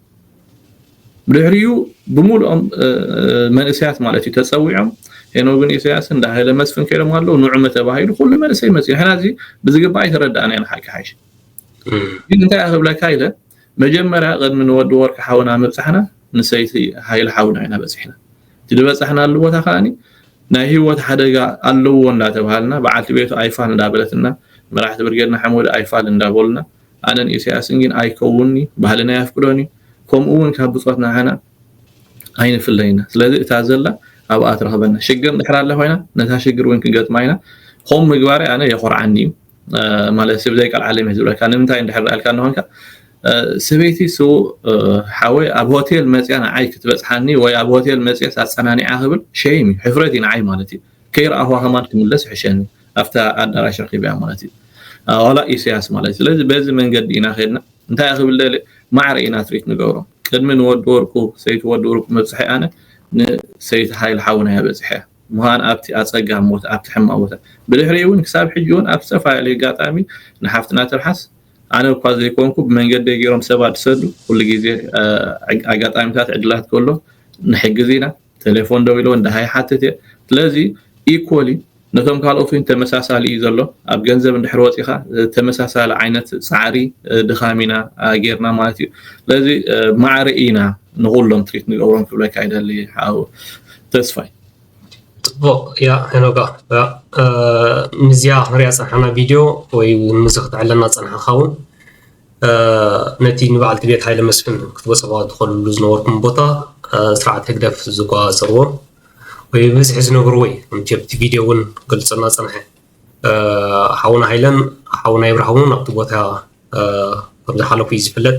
ብድሕሪኡ ብምሉኦም መንእሰያት ማለት እዩ ተጸዊዖም ሄኖግን ኢሰያስን ዳሃይለ መስፍን ከይዶም ኣለዉ ንዑመ ተባሂሉ ኩሉ መንእሰይ መጽኡ ሕና እዚ ብዝግባእ ኣይተረዳእና ኢና ሓቂ ሓይሽ ግን እንታይ ክብለካ ኢለ መጀመርያ ቅድሚ ንወዲ ወርቂ ሓውና ምብጻሕና ንሰይቲ ሃይለ ሓውና ኢና በጺሕና እቲ ዝበጻሕናሉ ቦታ ከኣ ናይ ህይወት ሓደጋ ኣለዎ እንዳተብሃልና በዓልቲ ቤቱ ኣይፋል እንዳበለትና መራሕቲ ብርጌድና ሓመዱ ኣይፋል እንዳበሉና ኣነን ኢሰያስን ግን ኣይከውንንዩ ባህልና ኣየፍቅዶንዩ ከምኡ ውን ካብ ብጾትና ንዓና ኣይንፍለይ ኢና ስለዚ እታ ዘላ ኣብኣ ትረኽበና ሽግር እንድሕር ኣላ ኮይና ነታ ሽግር ውን ክንገጥማ ኢና ከምኡ ምግባረይ ኣነ የኾርዓኒ እዩ ማለት ብዘይ ቃል ዓለም እዩ ዝብለካ ንምንታይ እንድሕር ርኣልካ እንኾንካ ሰበይቲ ስውእ ሓወይ ኣብ ሆቴል መፅያ ንዓይ ክትበፅሓኒ ወይ ኣብ ሆቴል መፅየስ ኣፀናኒዓ ክብል ሸይም እዩ ሕፍረት እዩ ንዓይ ማለት እዩ ከይረኣኹ ሃማን ክምለስ ይሕሸኒ ኣብታ ኣዳራሽ ረኪብያ ማለት እዩ ዋላ ኢሳያስ ማለት እዩ ስለዚ በዚ መንገዲ ኢና ከድና እንታይ ክብል ደልየ ማዕረ ኢና ትሪት ንገብሮ ቅድሚ ንወዲ ወርቁ ሰይቲ ወዲ ወርቁ መብፅሐ ኣነ ንሰይቲ ሓይል ሓውና እያ በፂሐ ምዃን ኣብቲ ኣጸጋሚ ቦታ፣ ኣብቲ ሕማቕ ቦታ፣ ብድሕሪኡ'ውን ክሳብ ሕጂ'ውን ኣብ ዝተፈላለየ ኣጋጣሚ ንሓፍትና ትርሓስ ኣነ እኳ ዘይኮንኩ ብመንገደይ ገይሮም ሰባት ዝሰዱ ኩሉ ግዜ ኣጋጣሚታት ዕድላት ከሎ ንሕግዝ ኢና ቴሌፎን ደዊለ እንዳ ይሓትት እየ ስለዚ ኢኮሊ ነቶም ካልኦት እውን ተመሳሳሊ እዩ ዘሎ ኣብ ገንዘብ እንድሕር ወፂኻ ተመሳሳሊ ዓይነት ፃዕሪ ድኻም ኢና ጌርና ማለት እዩ ስለዚ ማዕረ ኢና ንኩሎም ትሪት ንገብሮም ክብለካ ይደሊ ሓው ተስፋይ ጽቡቕ እያ ሄኖጋ ምስዚኣ ክንሪኣ ዝጸናሕና ቪድዮ ወይ እውን ምስዚ ክትዕለና ዝጸናሕካ እውን ነቲ ንበዓልቲ ቤት ሃይለ መስፍን ክትበጽሕዋ ትኸልሉ ዝነበርኩም ቦታ ስርዓት ህግደፍ ዝጓጸርዎ ወይ ብብዝሒ ዝነብርዎ እዩ ከምቲ ኣብቲ ቪድዮ እውን ገልጸና ጸንሐ ሓውና ሃይለን ሓውና ይብርሃውን ኣብቲ ቦታ ከም ዝሓለፉ እዩ ዝፍለጥ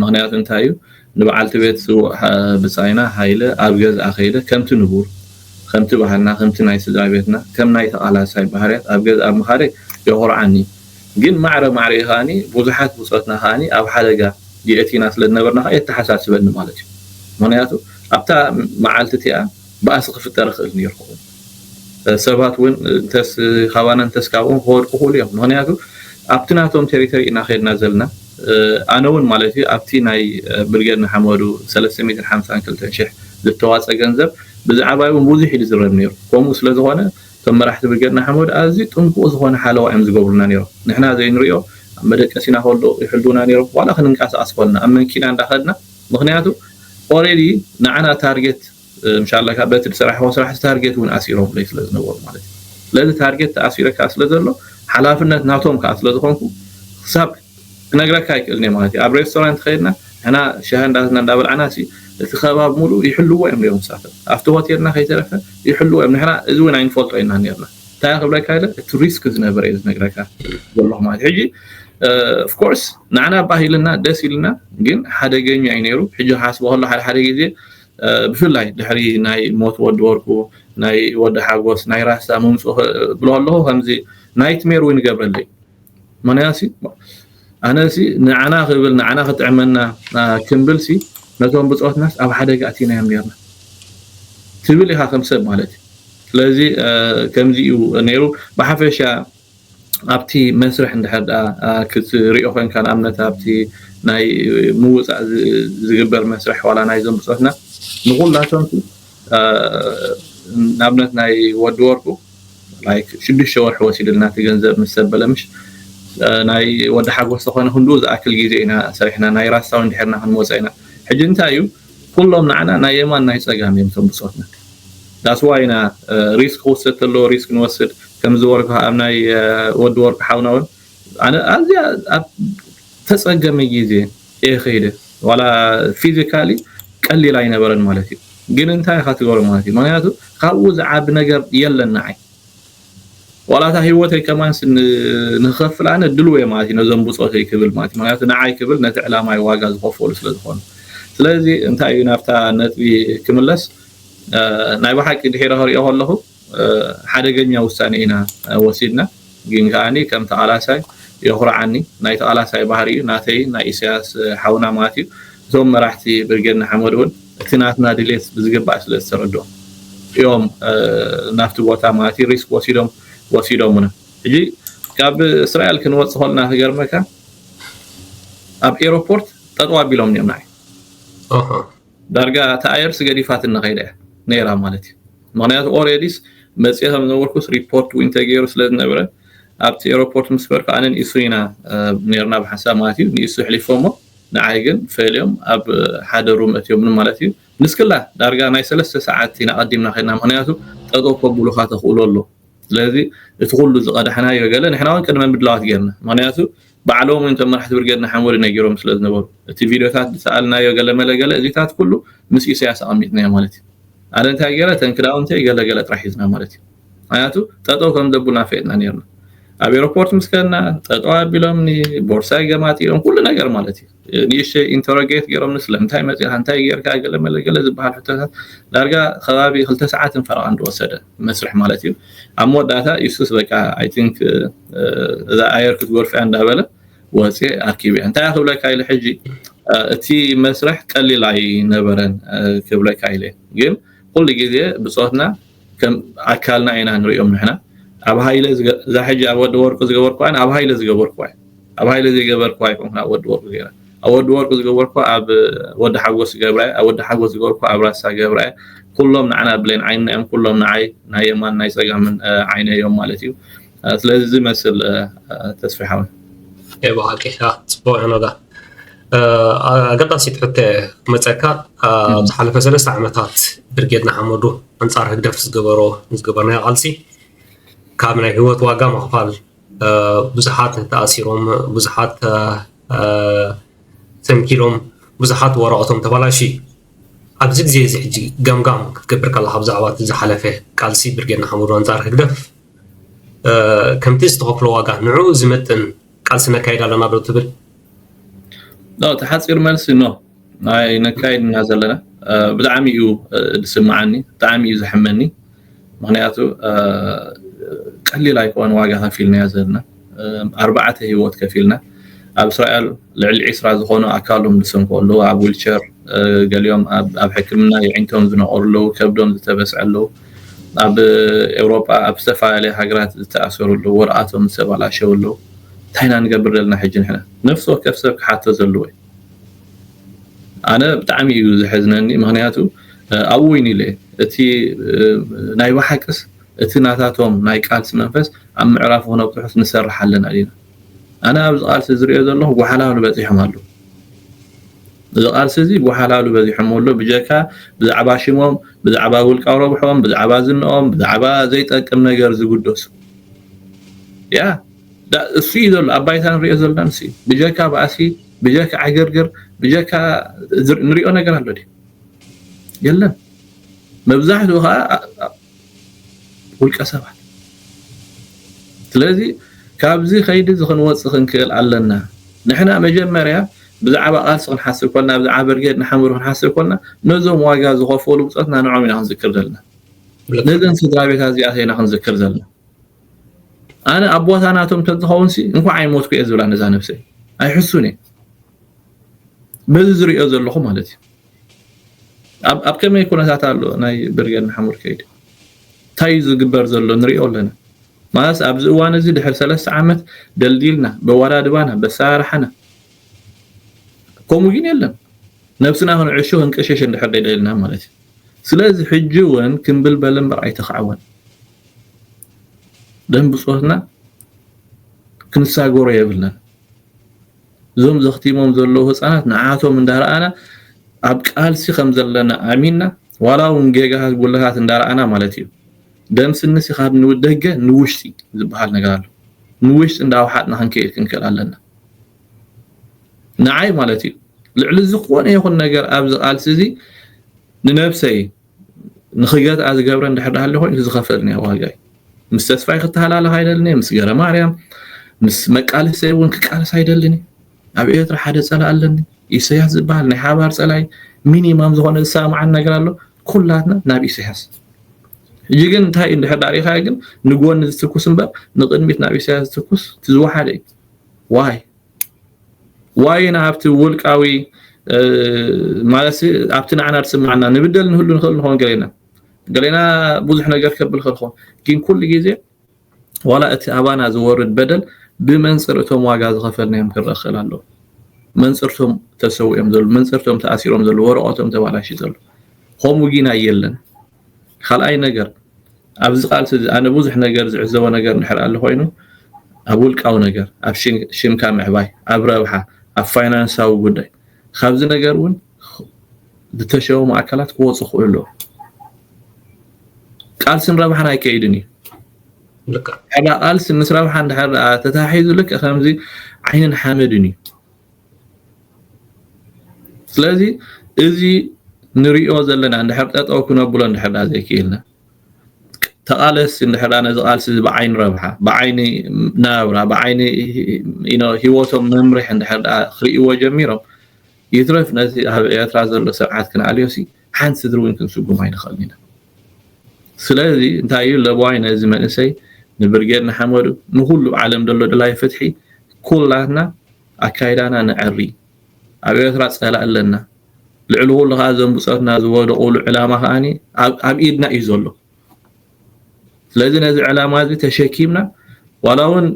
ምኽንያቱ እንታይ እዩ ንበዓልቲ ቤት ስዉእ ብጻይና ሃይለ ኣብ ገዝኣ ከይደ ከምቲ ንቡር ከምቲ ባህልና ከምቲ ናይ ስድራ ቤትና ከም ናይ ተቓላሳይ ባህርያት ኣብ ገዝኣ ምኻደይ የኹርዓኒ ግን ማዕረ ማዕሪኡ ከኣ ብዙሓት ብጾትና ከኣ ኣብ ሓደጋ የእቲና ስለ ዝነበርና ከኣ የተሓሳስበኒ ማለት እዩ ምኽንያቱ ኣብታ መዓልቲ እቲኣ ባእሲ ክፍጠር ይኽእል ነይሩ ክኸውን ሰባት ውን እንተስ ካባና እንተስ ካብኦም ክወድቁ ክእሉ እዮም ምክንያቱ ኣብቲ ናቶም ቴሪተሪ ኢና ከድና ዘለና ኣነ ውን ማለት እዩ ኣብቲ ናይ ብርጌድ ንሓመዱ ሰለስተ ሚእትን ሓምሳን ክልተን ሽሕ ዝተዋጸ ገንዘብ ብዛዕባይ ውን ብዙሕ እዩ ዝዝረብ ኔሩ ኮምኡ ስለ ዝኮነ እቶም መራሕቲ ብርጌድ ንሓመዱ ኣዝዩ ጥንቁቅ ዝኮነ ሓለዋ እዮም ዝገብሩልና ኔሮም ንሕና ዘይንሪኦ ኣብ መደቀሲና ከሎ ይሕልውና ኔሮም ዋላ ክንንቃሳቀስ ኮልና ኣብ መንኪና እንዳ ከድና ምክንያቱ ኦሬዲ ንዓና ታርጌት እንሻላ ካኣ በቲ ድሰራሕዎ ስራሕ ታርጌት ውን ኣሲሮምለይ ስለ ዝነበሩ ማለት እዩ ስለዚ ታርጌት ተኣሲረ ካኣ ስለ ዘሎ ሓላፍነት ናቶም ካኣ ስለ ዝኮንኩ ክሳብ ክነግረካ ኣይክእልን እየ ማለት እዩ ኣብ ሬስቶራንት ከይድና ንሕና ሻሂ እንዳትና እንዳበላዕና ሲ እቲ ከባቢ ሙሉእ ይሕልዎ እዮም ነይሮም ንሳቶም ኣብቲ ሆቴልና ከይተረፈ ይሕልዎ እዮም ንሕና እዚ ውን ኣይንፈልጦ ኢና ነይርና እንታይ ክብለካ ኢለ እቲ ሪስክ ዝነበረ እዩ ዝነግረካ ዘለኹ ማለት ሕጂ ኦፍኮርስ ንዓና ባህ ኢልና ደስ ኢልና ግን ሓደገኛ እዩ ነይሩ ሕጂ ክሓስቦ ከሎ ሓደ ሓደ ግዜ ብፍላይ ድሕሪ ናይ ሞት ወዲ ወርቁ ናይ ወዲ ሓጎስ ናይ ራህሳ ምምጽኡ ክብሎ ኣለኹ ከምዚ ናይትሜር እውን ይገብረለይ ምክንያሲ ኣነ ሲ ንዓና ክብል ንዓና ክጥዕመና ክንብል ሲ ነቶም ብጾትናስ ኣብ ሓደጋ ኣቲናዮም ነርና ትብል ኢኻ ከም ሰብ ማለት እዩ ስለዚ ከምዚ እዩ ነይሩ ብሓፈሻ ኣብቲ መስርሕ እንድሕር ደኣ ክትሪኦ ኮንካ ንኣብነት ኣብቲ ናይ ምውጻእ ዝግበር መስርሕ ዋላ ናይዞም ብጾትና ንኹላቶምሲ ንኣብነት ናይ ወዲ ወርቁ like ሽዱሽተ ወርሒ ወሲድልና እቲ ገንዘብ ምስ ሰብ በለ ምሽ ናይ ወዲ ሓጎስ ተኾነ ክንድኡ ዝኣክል ግዜ ኢና ሰሪሕና ናይ ራስታ ውን ድሒርና ክንወጾ ኢና ሕጂ እንታይ እዩ ኩሎም ንዓና ናይ የማን ናይ ጸጋም እዮም እቶም ብጾትና that's why ኢና ሪስክ ክውሰድ ተለዎ ሪስክ ንወስድ ከም ዝበልኩ ከኣ ኣብ ናይ ወዲ ወርቁ ሓውና ውን ኣነ ኣዝያ ኣብ ተጸገመ ግዜ እየ ከይደ ዋላ ፊዚካሊ ቀሊል ኣይነበረን ማለት እዩ ግን እንታይ ኢኻ ትገብሮ ማለት እዩ ምኽንያቱ ካብኡ ዝዓቢ ነገር የለን ንዓይ ዋላ እታ ሂወተይ ከማንስ ንክከፍል ኣነ ድልው እየ ማለት እዩ ነዞም ብጾተይ ክብል ማለት እዩ ምክንያቱ ንዓይ ክብል ነቲ ዕላማይ ዋጋ ዝከፈሉ ስለ ዝኮኑ ስለዚ እንታይ እዩ ናብታ ነጥቢ ክምለስ ናይ ብሓቂ ድሒረ ክሪኦ ከለኩ ሓደገኛ ውሳኔ ኢና ወሲድና ግን ከኣኒ ከም ተቃላሳይ የኩርዓኒ ናይ ተቃላሳይ ባህሪ እዩ ናተይን ናይ ኢሰያስ ሓውና ማለት እዩ እቶም መራሕቲ ብርጌድ ንሓመዱ ውን እቲ ናትና ድሌት ብዝግባእ ስለ ዝተረድኦም እዮም ናብቲ ቦታ ማለት እዩ ሪስክ ወሲዶም ወሲዶሙና ሕጂ ካብ እስራኤል ክንወጽእ ከለና ክገርመካ ኣብ ኤሮፖርት ጠጠው ኣቢሎምኒ እዮም ንዓይ ኣሃ ዳርጋ እታ ኣየርስ ገዲፋትና ከይዳ እያ ነይራ ማለት እዩ ምክንያቱ ኦሬዲስ መጽኤ ከም ዝነበርኩስ ሪፖርት ዊን ተገይሩ ስለ ዝነበረ ኣብቲ ኤሮፖርት ምስ በርኩ ኣነን ኢሱን ኢና ነርና ብሓንሳብ ማለት እዩ ንኢሱ ኣሕሊፎሞ ንዓይ ግን ፈልዮም ኣብ ሓደ ሩም ኣትዮምኒ ማለት እዩ ንስክላ ዳርጋ ናይ ሰለስተ ሰዓት ኢና ቀዲምና ከድና ምክንያቱ ጠጠው ከብሉካ ተክእሎ ኣሎ ስለዚ እቲ ኩሉ ዝቀዳሕናዮ ገለ ንሕና ውን ቅድመ ምድላዋት ጌርና ምክንያቱ ባዕሎም ውን እቶም መራሕቲ ብርጌድ ንሓመዱ ነጊሮም ስለ ዝነበሩ እቲ ቪድዮታት ዝሰኣልናዮ ገለ መለ ገለ እዚታት ኩሉ ምስ ኢሰያስ ኣቀሚጥናዮ ማለት እዩ ኣነ እንታይ ጌረ እተን ክዳውንተይ ገለ ገለ ጥራሕ ሒዝና ማለት እዩ ምክንያቱ ጠጠው ከም ዘቡና ፈየጥና ነርና ኣብ ኤሮፖርት ምስ ከድና ጠጠው ኣቢሎምኒ ቦርሳይ ገማጢኦም ኩሉ ነገር ማለት እዩ ንእሽተይ ኢንተሮጌት ገይሮም ስለምንታይ መፂኻ እንታይ ጌርካ ገለ መለገለ ዝበሃል ሕቶታት ዳርጋ ከባቢ ክልተ ሰዓትን ፈረቓን ዝወሰደ መስርሕ ማለት እዩ ኣብ መወዳእታ ኢሱስ በቃ ኣይ ቲንክ እዛ ኣየር ክትጎርፍያ እንዳበለ ወፂ ኣርኪብያ እንታይ ክብለካ ኢለ ሕጂ እቲ መስርሕ ቀሊል ኣይነበረን ክብለካ ኢለ ግን ኩሉ ግዜ ብፆትና ከም ኣካልና ኢና ንሪኦም ንሕና ኣብ ሃይለ እዛ ሕጂ ኣብ ወዲ ወርቁ ዝገበርኩዋን ኣብ ሃይለ ዝገበርኩዋ እዩ ኣብ ሃይለ ዘይገበርኩዋ ኣይኮንኩን ኣብ ወዲ ወርቁ ገይረ ኣብ ወዲ ወርቁ ዝገበርኩዋ ኣብ ወዲ ሓጎስ ገብራ ኣብ ወዲ ሓጎስ ዝገበርኩ ኣብ ራሳ ገብራ ኩሎም ንዓና ብሌን ዓይንና እዮም ኩሎም ንዓይ ናይ የማን ናይ ፀጋምን ዓይነ እዮም ማለት እዩ ስለዚ እዚ መስል ተስፋ ሓወይ ኤ ብሓቂ ፅቡቅ ሕነዳ ኣገዳሲት ሕተ ክመፀካ ኣብ ዝሓለፈ ሰለስተ ዓመታት ብርጌድ ንሓመዱ ኣንፃር ህግደፍ ዝገበሮ ዝገበርናዮ ቃልሲ ካብ ናይ ህይወት ዋጋ ምኽፋል ብዙሓት ተኣሲሮም ብዙሓት ተንኪሎም ብዙሓት ወረቐቶም ተባላሽ ኣብዚ ግዜ እዚ ሕጂ ገምጋም ክትገብር ከለካ ብዛዕባ እቲ ዝሓለፈ ቃልሲ ብርጌድ ንሓመዱ ኣንፃር ህግደፍ ከምቲ ዝተኸፍሎ ዋጋ ንዕኡ ዝመጥን ቃልሲ ነካይድ ኣለና ዶ ትብል እቲ ሓፂር መልሲ ኖ ናይ ነካይድ ኢና ዘለና ብጣዕሚ እዩ ዝስምዓኒ ብጣዕሚ እዩ ዘሕመኒ ምክንያቱ ቀሊል ኣይኮነ ዋጋ ከፊልናዮ ዘለና ኣርባዕተ ሂወት ከፊልና ኣብ እስራኤል ልዕሊ ዒስራ ዝኾኑ ኣካሎም ዝሰንኩ ኣለዉ ኣብ ዊልቸር ገሊኦም ኣብ ሕክምና የዒንቶም ዝነቆሩ ኣለዉ ከብዶም ዝተበስዐ ኣለዉ ኣብ ኤውሮጳ ኣብ ዝተፈላለየ ሃገራት ዝተኣሰሩ ኣለዉ ወረቓቶም ዝተባላሸው ኣለዉ እንታይ ኢና ንገብር ዘለና ሕጂ ንሕና ነፍሲ ወከፍ ሰብ ክሓቶ ዘለዎ እዩ ኣነ ብጣዕሚ እዩ ዘሐዝነኒ ምክንያቱ ኣብኡ ወይኒ ኢለ እቲ ናይ ብሓቅስ እቲ ናታቶም ናይ ቃልሲ መንፈስ ኣብ ምዕራፉ ክነብጽሑስ ንሰርሕ ኣለና ዲና? ኣነ ኣብዚ ቃልሲ ዝርእዮ ዘለኹ ጎሓላሉ በጺሖም ኣለዉ። እዚ ቃልሲ እዚ ጎሓላሉ በዚሖሞ ኣሎ ብጀካ ብዛዕባ ሽሞም፣ ብዛዕባ ውልቃዊ ረብሕኦም፣ ብዛዕባ ዝንኦም፣ ብዛዕባ ዘይጠቅም ነገር ዝግደሱ። ያ ዳእ እሱ እዩ ዘሎ ኣብ ባይታ ንርእዮ ዘለና ንሱ እዩ። ብጀካ ባእሲ፣ ብጀካ ዕግርግር፣ ብጀካ ንርእዮ ነገር ኣሎ ድዩ? የለን። መብዛሕትኡ ከኣ ውልቀ ሰባት ስለዚ ካብዚ ከይዲ እዚ ክንወፅእ ክንክእል ኣለና ንሕና መጀመርያ ብዛዕባ ቃልሲ ክንሓስብ ኮልና ብዛዕባ ብርጌድ ንሓመዱ ክንሓስብ ኮልና ነዞም ዋጋ ዝኸፈሉ ብፆትና ንዕኦም ኢና ክንዝክር ዘለና ነዘን ስድራ ቤታ እዚኣተ ኢና ክንዝክር ዘለና ኣነ ኣብ ቦታ ናቶም ተዝኸውን ሲ እንኳዕ ኣይሞትኩ እየ ዝብላ ነዛ ነብሰይ ኣይሕሱን እየ በዚ ዝሪኦ ዘለኹ ማለት እዩ ኣብ ከመይ ኩነታት ኣሎ ናይ ብርጌድ ንሓመዱ ከይዲ እንታይ እዩ ዝግበር ዘሎ ንሪኦ ኣለና ማለት ኣብዚ እዋን እዚ ድሕሪ ሰለስተ ዓመት ደልዲልና በዋዳድባና በሰራርሓና ከምኡ ግን የለን ነብስና ክንዕሾ ክንቀሸሽ እንድሕር ደይደልና ማለት እዩ ስለዚ ሕጂ እውን ክንብል በለ እምበር ኣይተኸዕወን ደም ብፆትና ክንሳገሮ የብልናን እዞም ዘኽቲሞም ዘለዉ ህጻናት ንዓቶም እንዳረኣና ኣብ ቃልሲ ከም ዘለና ኣሚንና ዋላ ውን ጌጋታት ጉድለታት እንዳረኣና ማለት እዩ ደም ስንሲ ካብ ንደገ ንውሽጢ ዝበሃል ነገር ኣሎ ንውሽጢ እንዳውሓጥና ክንከይድ ክንክእል ኣለና ንዓይ ማለት እዩ ልዕሊ ዝኾነ ይኹን ነገር ኣብዚ ቃልሲ እዚ ንነብሰይ ንክገዝኣ ዝገብረ እንድሕር ሃልዩ ኮይኑ እቲ ዝኸፈል እኒኦ ዋጋ እዩ ምስ ተስፋይ ክተሃላለኽ ኣይደልን እየ ምስ ገረ ማርያም ምስ መቃልሰይ እውን ክቃልስ ኣይደልን እዩ ኣብ ኤርትራ ሓደ ፀላእ ኣለኒ ኢሰያስ ዝበሃል ናይ ሓባር ፀላይ ሚኒማም ዝኾነ ዝሰማማዓን ነገር ኣሎ ኩላትና ናብ ኢሰያስ ሕጂ ግን እንታይ እንድሕር ዳሪኻ ግን ንጎኒ ዝትኩስ እምበር ንቅድሚት ናብ ኢሰያስ ዝትኩስ ትዝወሓደ እዩ ዋይ ዋይ ኢና ኣብቲ ውልቃዊ ማለትሲ ኣብቲ ንዓና ዝስምዓና ንብደል ንህሉ ንኽእል ንኸውን ገሌና ገሌና ብዙሕ ነገር ከብል ከልኾ ግን ኩሉ ግዜ ዋላ እቲ ኣባና ዝወርድ በደል ብመንፅር እቶም ዋጋ ዝኸፈልናዮም ክረአ ክኽእል ኣለዎ መንፅርቶም ተሰዊኦም ዘለዉ መንፅርቶም ተኣሲሮም ዘለዉ ወረቐቶም ተባላሽ ዘለዉ ከምኡ ግን ኣየለን ካልኣይ ነገር ኣብዚ ቃልሲ እዚ ኣነ ብዙሕ ነገር ዝዕዘቦ ነገር እንድሕር ኣሉ ኮይኑ ኣብ ውልቃዊ ነገር ኣብ ሽምካ ምዕባይ ኣብ ረብሓ ኣብ ፋይናንሳዊ ጉዳይ ካብዚ ነገር እውን ዝተሸወሙ ኣካላት ክወፁ ክእሉ ኣለዎ ቃልስን ረብሓን ኣይከይድን እዩ ልክዕ ዕዳ ቃልሲ ምስ ረብሓ እንድሕር ተታሒዙ ልክዕ ከምዚ ዓይንን ሓመድን እዩ ስለዚ እዚ ንሪኦ ዘለና እንድሕር ጠጠው ክነብሎ እንድሕር ዘይክኢልና ተቓለስቲ እንድሕር ነዚ ቃልሲ እዚ ብዓይኒ ረብሓ ብዓይኒ ናብራ ብዓይኒ ሂወቶም መምርሒ እንድሕር ክርእይዎ ጀሚሮም ይትረፍ ነዚ ኣብ ኤርትራ ዘሎ ስርዓት ክንኣልዮ ሲ ሓንቲ ስድሪ እውን ክንስጉም ኣይንኽእልን ኢና ስለዚ እንታይ እዩ ለበዋይ ነዚ መንእሰይ ንብርጌድ ንሓመዱ ንኩሉ ዓለም ዘሎ ድላይ ፍትሒ ኩላትና ኣካይዳና ነዐሪ ኣብ ኤርትራ ጸላኢ ኣለና ልዕሊ ኩሉ ከኣ እዞም ብጾትና ዝወደቁሉ ዕላማ ከኣ ኣብ ኢድና እዩ ዘሎ ስለዚ ነዚ ዕላማ እዚ ተሸኪምና ዋላ እውን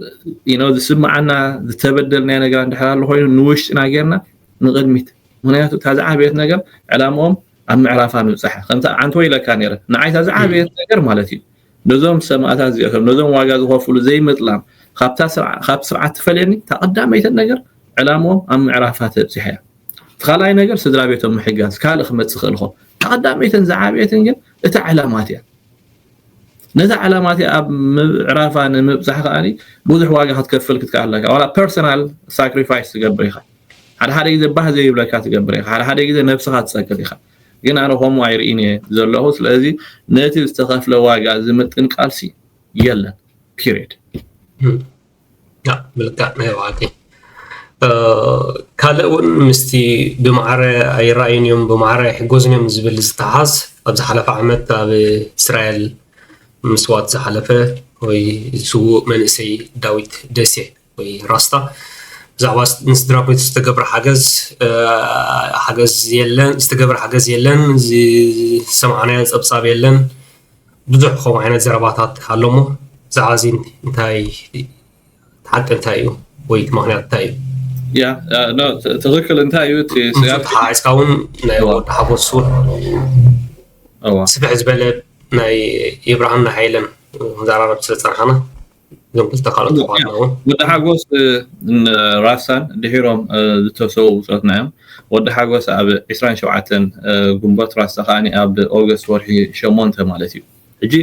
ኢኖ ዝስምዓና ዝተበደልናዮ ነገር እንድሕር ኣሎ ኮይኑ ንውሽጥና ጌርና ንቕድሚት ምክንያቱ እታ ዝዓበየት ነገር ዕላምኦም ኣብ ምዕራፋ ምብፃሕ ከምቲ ዓንቶ ኢለካ ነረ ንዓይታ ዝዓበየት ነገር ማለት እዩ ነዞም ሰማእታት እዚኣቶም ነዞም ዋጋ ዝኸፍሉ ዘይምጥላም ካብታ ስርዓ ካብ ስርዓት ትፈልየኒ እታ ቀዳመይቲ ነገር ዕላምኦም ኣብ ምዕራፋ ተብጺሓ እያ እቲ ካልኣይ ነገር ስድራ ቤቶም ምሕጋዝ ካልእ ክመጽእ ይኽእል ኾ እታ ቀዳመይትን ዝዓበየትን ግን እታ ዕላማት እያ ነዛ ዕላማ እቲኣ ኣብ ምዕራፋ ንምብፃሕ ከዓ ብዙሕ ዋጋ ክትከፍል ክትከኣል ኣለካ ዋላ ፐርሰናል ሳክሪፋይስ ትገብር ኢኻ ሓደ ሓደ ግዜ ባህ ዘይብለካ ትገብር ኢኻ ሓደ ሓደ ግዜ ነብስኻ ትፀቅጥ ኢኻ ግን ኣነ ከምኡ ኣይርኢን እየ ዘለኹ ስለዚ ነቲ ዝተኸፍለ ዋጋ ዝምጥን ቃልሲ የለን ፒሬድ ምልካዕ ናይ ባዕልቲ ካልእ እውን ምስቲ ብማዕረ ኣይረኣዩን እዮም ብማዕረ ኣይሕጎዝን እዮም ዝብል ዝተሓዝ ኣብ ዝሓለፈ ዓመት ኣብ እስራኤል ምስዋት ዝሓለፈ ወይ ስዉእ መንእሰይ ዳዊት ደሴ ወይ ራስታ ብዛዕባ ንስድራ ቤቱ ዝተገብረ ሓገዝ ሓገዝ የለን ዝተገብረ ሓገዝ የለን ዝሰማዕናዮ ፀብፃብ የለን ብዙሕ ከምኡ ዓይነት ዘረባታት ኣሎ እሞ ብዛዕባ እዚ እንታይ ሓቂ እንታይ እዩ ወይ እቲ ምክንያት እንታይ እዩ ያ ትኽክል እንታይ እዩ እቲ ስጋት ሓዓፅካ እውን ናይ ወዲ ሓጎስ እውን ስፍሕ ዝበለ ናይ የብርሃን ናይ ሃይለን መዘራረብ ስለ ፀናሕና ወዲ ሓጎስ ራሳን ድሒሮም ዝተሰዉ ብፆትና እዮም ወዲ ሓጎስ ኣብ 27 ግንቦት ራሳ ከዓ ኣብ ኦገስት ወርሒ ሸሞንተ ማለት እዩ ሕጂ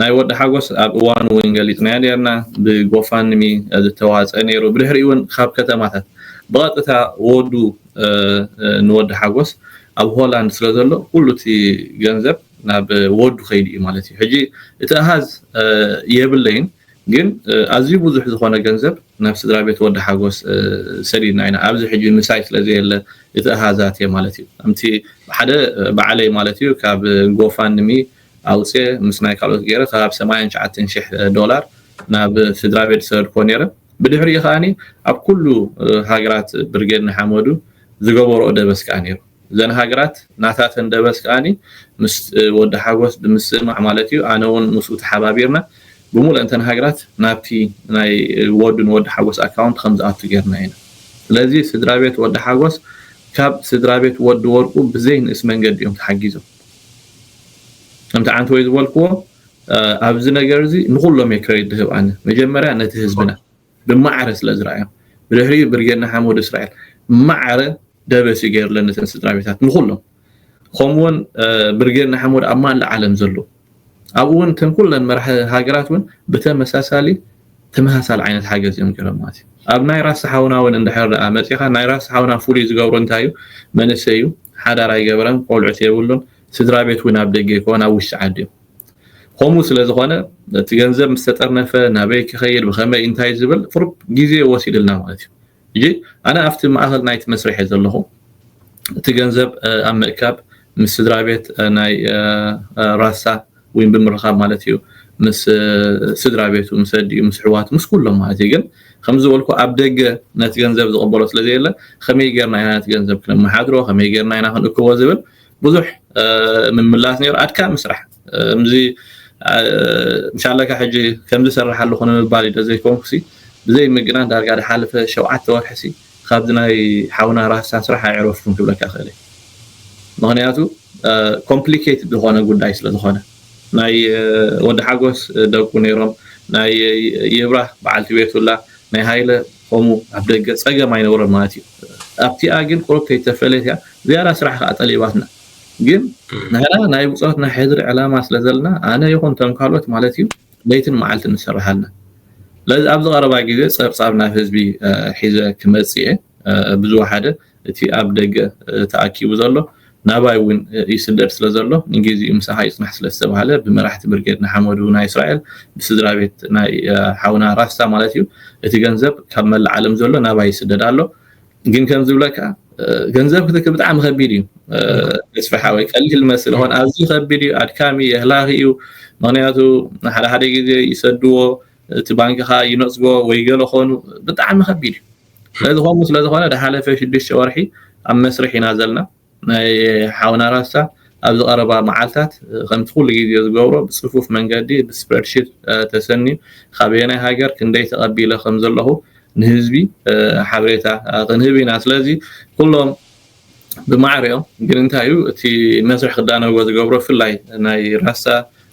ናይ ወዲ ሓጎስ ኣብ እዋኑ እውን ገሊፅናዮ ነርና ብጎፋንሚ ዝተዋፀ ነይሩ ብድሕሪ እውን ካብ ከተማታት ብቐጥታ ወዱ ንወዲ ሓጎስ ኣብ ሆላንድ ስለ ዘሎ ኩሉ እቲ ገንዘብ ናብ ወዱ ከይዱ እዩ ማለት እዩ ሕጂ እቲ ኣሃዝ የብለይን ግን ኣዝዩ ብዙሕ ዝኾነ ገንዘብ ናብ ስድራቤት ወዲ ሓጎስ ሰዲድና ኢና ኣብዚ ሕጂ ምሳይ ስለ ዘየለ እቲ ኣሃዝ ኣትየ ማለት እዩ ከምቲ ሓደ ባዕለይ ማለት እዩ ካብ ጎፋንድሚ ኣውጽየ ምስ ናይ ካልኦት ገይረ ከባቢ ሰማንያን ትሽዓተን ሽሕ ዶላር ናብ ስድራቤት ዝሰደድክዎ ነይረ ብድሕሪኡ ከኣ ኣብ ኩሉ ሃገራት ብርጌድ ንሓመዱ ዝገበርኦ ደበስ ከኣ ነይሩ እዘን ሃገራት ናታተን ደበስ ከኣ ምስ ወዲ ሓጎስ ብምስምማዕ ማለት እዩ ኣነ ውን ምስኡ ተሓባቢርና ብሙሉኤንተን ሃገራት ናብቲ ናይ ወዱ ንወዲ ሓጎስ ኣካውንት ከምዝኣቱ ጌርና ኢና ስለዚ ስድራቤት ወዲ ሓጎስ ካብ ስድራቤት ወዲ ወርቁ ብዘይ ንእስ መንገዲ እዮም ተሓጊዞም ከምቲ ዓንተወይ ዝበልክዎ ኣብዚ ነገር እዚ ንኩሎም እየ ክረዲት ድህብ ኣነ መጀመርያ ነቲ ህዝብና ብማዕረ ስለ ዝረኣዮም ብድሕሪኡ ብርጌድ ንሓመዱ እስራኤል ማዕረ ደበሲ ገይሩለን ነተን ስድራቤታት ንኹሎም ከምኡ ውን ብርጌድ ንሓመዱ ኣብ ማላ ዓለም ዘለዉ ኣብኡ ውን እተን ኩለን መራሒ ሃገራት ውን ብተመሳሳሊ ተመሳሳሊ ዓይነት ሓገዝ እዮም ገይሮም ማለት እዩ ኣብ ናይ ራስ ሓውና እውን እንድሕር ደኣ መፂኻ ናይ ራስ ሓውና ፍሉይ ዝገብሮ እንታይ እዩ መንእሰይ እዩ ሓዳር ኣይገበረን ቆልዑት የብሉን ስድራ ቤት እውን ኣብ ደገ ይኮን ኣብ ውሽጢ ዓዲ እዮም ኾምኡ ስለዝኾነ እቲ ገንዘብ ምስ ተጠርነፈ ናበይ ክኸይድ ብኸመይ እንታይ ዝብል ቁሩብ ግዜ ወሲድልና ማለት እዩ ሕጂ ኣነ ኣብቲ ማእኸል ናይቲ መስርሕ እየ ዘለኹ እቲ ገንዘብ ኣብ ምእካብ ምስ ስድራ ቤት ናይ ራሳ ወይ ብምርኻብ ማለት እዩ ምስ ስድራ ቤቱ ምስ ኣዲኡ ምስ ሕዋቱ ምስ ኩሎም ማለት እዩ ግን ከም ዝበልኩ ኣብ ደገ ነቲ ገንዘብ ዝቕበሎ ስለ ዘየለ ከመይ ጌርና ኢና ነቲ ገንዘብ ክነመሓድሮ ከመይ ጌርና ኢና ክንእክቦ ዝብል ብዙሕ ምምላስ ነይሩ ኣድካሚ ስራሕ እምዚ ምሻለካ ሕጂ ከምዚ ሰርሕ ኣለኹ ንምባል እዩ ዘይኮንኩሲ ብዘይ ምግናን ዳርጋ ዝሓለፈ ሸውዓተ ወርሒሲ ካብዚ ናይ ሓውና ራህሳን ስራሕ ኣይዕረፍኩን ክብለካ ክእል እየ ምክንያቱ ኮምፕሊኬትድ ዝኾነ ጉዳይ ስለ ዝኾነ ናይ ወዲ ሓጎስ ደቁ ነይሮም ናይ ይብራህ በዓልቲ ቤቱላ ናይ ሃይለ ከምኡ ኣብ ደገ ጸገም ኣይነብሮን ማለት እዩ ኣብቲኣ ግን ቁሩብ ከይተፈለየት እያ ዝያዳ ስራሕ ከኣ ጠሊባትና ግን ንሕና ናይ ብጾት ናይ ሕድሪ ዕላማ ስለ ዘለና ኣነ ይኹን እቶም ካልኦት ማለት እዩ ለይትን መዓልትን ንሰርሕ ኣለና ስለዚ ኣብዚ ቀረባ ግዜ ጸብጻብ ናብ ህዝቢ ሒዘ ክመጽእ እየ ብዝወሓደ እቲ ኣብ ደገ ተኣኪቡ ዘሎ ናባይ እውን ይስደድ ስለ ዘሎ ንጊዚኡ ምሳኻ ይጽናሕ ስለ ዝተባህለ ብመራሕቲ ብርጌድ ንሓመዱ ናይ እስራኤል ብስድራቤት ናይ ሓውና ራስታ ማለት እዩ እቲ ገንዘብ ካብ መላእ ዓለም ዘሎ ናባይ ይስደድ ኣሎ ግን ከም ዝብለካ ገንዘብ ክትክል ብጣዕሚ ከቢድ እዩ ተስፋ ሓወይ ቀሊል መስል ሆን ኣዝዩ ከቢድ እዩ ኣድካሚ የህላኺ እዩ ምክንያቱ ሓደ ሓደ ግዜ ይሰድዎ እቲ ባንክኻ ይነጽጎ ወይ ገለ ኾኑ ብጣዕሚ ከቢድ እዩ ስለዚ ከምኡ ስለዝኾነ ድሓለፈ ሽዱሽተ ወርሒ ኣብ መስርሕ ኢና ዘለና። ናይ ሓውና ራስታ ኣብዚ ቀረባ መዓልታት ከምቲ ኩሉ ግዜ ዝገብሮ ብጽፉፍ መንገዲ ብስፕረድሺት ተሰንዩ ካበየናይ ሃገር ክንደይ ተቐቢለ ከምዘለኹ ንህዝቢ ሓበሬታ ክንህብ ኢና። ስለዚ ኩሎም ብማዕረ እዮም ግን እንታይ እዩ እቲ መስርሕ ክዳነዎ ዝገብሮ ብፍላይ ናይ ራስታ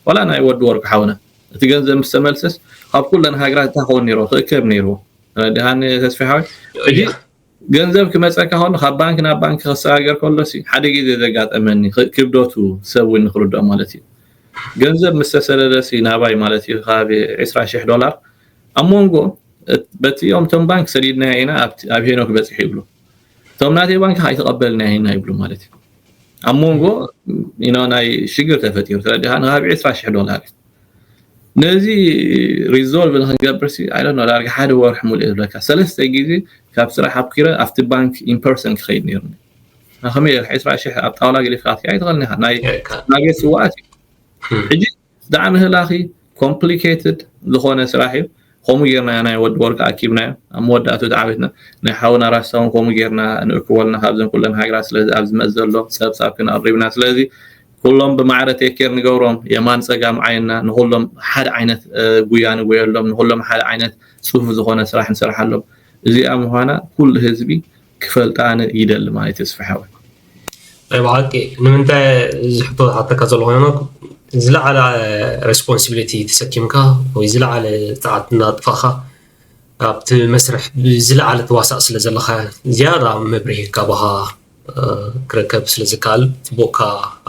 ዋላ ናይ ወዲ ወርቁ ሓውና እቲ ገንዘብ ምስ ተመልሰስ ካብ ኩለን ሃገራት እንታይ ክኸውን ነይርዎ ክእከብ ነይርዎ ደሃን ተስፋ ሓወይ ሕጂ ገንዘብ ክመፀካ ከሎ ካብ ባንክ ናብ ባንክ ክሰጋገር ከሎ ሲ ሓደ ግዜ ዘጋጠመኒ ክብደቱ ሰብ እውን ንክርድኦ ማለት እዩ ገንዘብ ምስ ተሰደደ ሲ ናባይ ማለት እዩ ካብ 20 ሽሕ ዶላር ኣብ መንጎ በቲ እቶም ባንክ ሰዲድናዮ ኢና ኣብ ሄኖክ በፂሑ ይብሉ እቶም ናተይ ባንኪ ኣይተቐበልና ይሄና ይብሉ ማለት እዩ ኣብ መንጎ ናይ ሽግር ተፈጢሩ ተረዲኻ ንሃብ 20 ሽሕ ዶላር እዩ ነዚ ሪዞልቭ ንክንገብርሲ ኣይ ዶንት ኖ ዳርጋ ሓደ ወርሒ ሙሉእ ዝብለካ ሰለስተ ግዜ ካብ ስራሕ ኣብኪረ ኣብቲ ባንክ ኢምፐርሰን ክኸይድ ነይሩኒ ከመይ 20 ሽሕ ኣብ ጣውላ ገሊፍካ ክትከ ኣይትኽእልን ኢኻ ናይ ናቤት ስዋኣት እዩ ሕጂ ብጣዕሚ ህላኺ Complicated ዝኾነ ስራሕ እዩ ከምኡ ጌርና ናይ ወዲ ወርቂ ኣኪብናዮ ኣብ መወዳእትኡ ተዓዊትና ናይ ሓውና ራስታ ውን ከምኡ ጌርና ንእክቦ ኣለና ካብዘን ኩለን ሃገራት ስለዚ ኣብዚ መዚ ዘሎ ጸብጻብ ክንኣቅሪብና ስለዚ ኩሎም ብማዕረ ቴኬር ንገብሮም የማን ጸጋም ዓይንና ንኹሎም ሓደ ዓይነት ጉያ ንጎየሎም ንኹሎም ሓደ ዓይነት ጽፉፍ ዝኾነ ስራሕ ንሰርሓሎም እዚኣ ምዃና ኩሉ ህዝቢ ክፈልጣ ኣነ ይደሊ ማይ ተስፋ ሓወይ ናይ ብሓቂ ንምንታይ እዚ ሕቶ ዝሓተካ ዘሎ ኮይነ ዝለዓለ ሬስፖንሲቢሊቲ ተሰኪምካ ወይ ዝለዓለ ፀዓት እናጥፋኻ ኣብቲ መስርሕ ብዝለዓለ ተዋሳእ ስለ ዘለካ ዝያዳ መብርሂ ካባኻ ክርከብ ስለ ዝከኣል ፅቡቕካ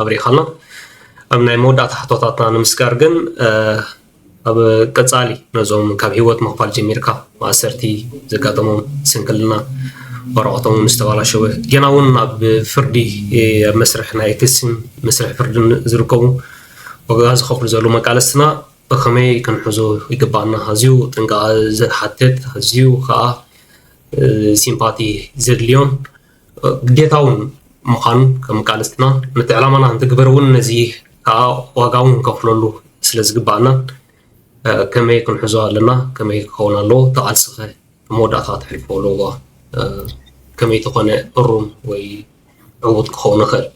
ኣብሪኻልና ኣብ ናይ መወዳእታ ሕቶታትና ንምስጋር ግን ኣብ ቀጻሊ ነዞም ካብ ህይወት ምኽፋል ጀሚርካ ማእሰርቲ ዘጋጠሞም ስንክልና ወረቐቶም እውን ዝተባላሸወ ጌና እውን ኣብ ፍርዲ ኣብ መስርሕ ናይ ክስን መስርሕ ፍርድን ዝርከቡ ዋጋ ዝኸፍሉ ዘለዉ መቃለስትና ብኸመይ ክንሕዞ ይግባኣና ኣዝዩ ጥንቃቐ ዝሓትት ኣዝዩ ከዓ ሲምፓቲ ዘድልዮን ግዴታውን ምዃን ከም ቃልስትና ነቲ ዕላማና እንትግብር እውን ነዚ ከዓ ዋጋ እውን ክንከፍለሉ ስለ ዝግባኣና ከመይ ክንሕዞ ኣለና ከመይ ክኸውን ኣለዎ ተቓልስኸ መወዳእታ ትሕልፎ ኣለዎ ከመይ ተኾነ እሩም ወይ ዕዉት ክኸውን ይኽእል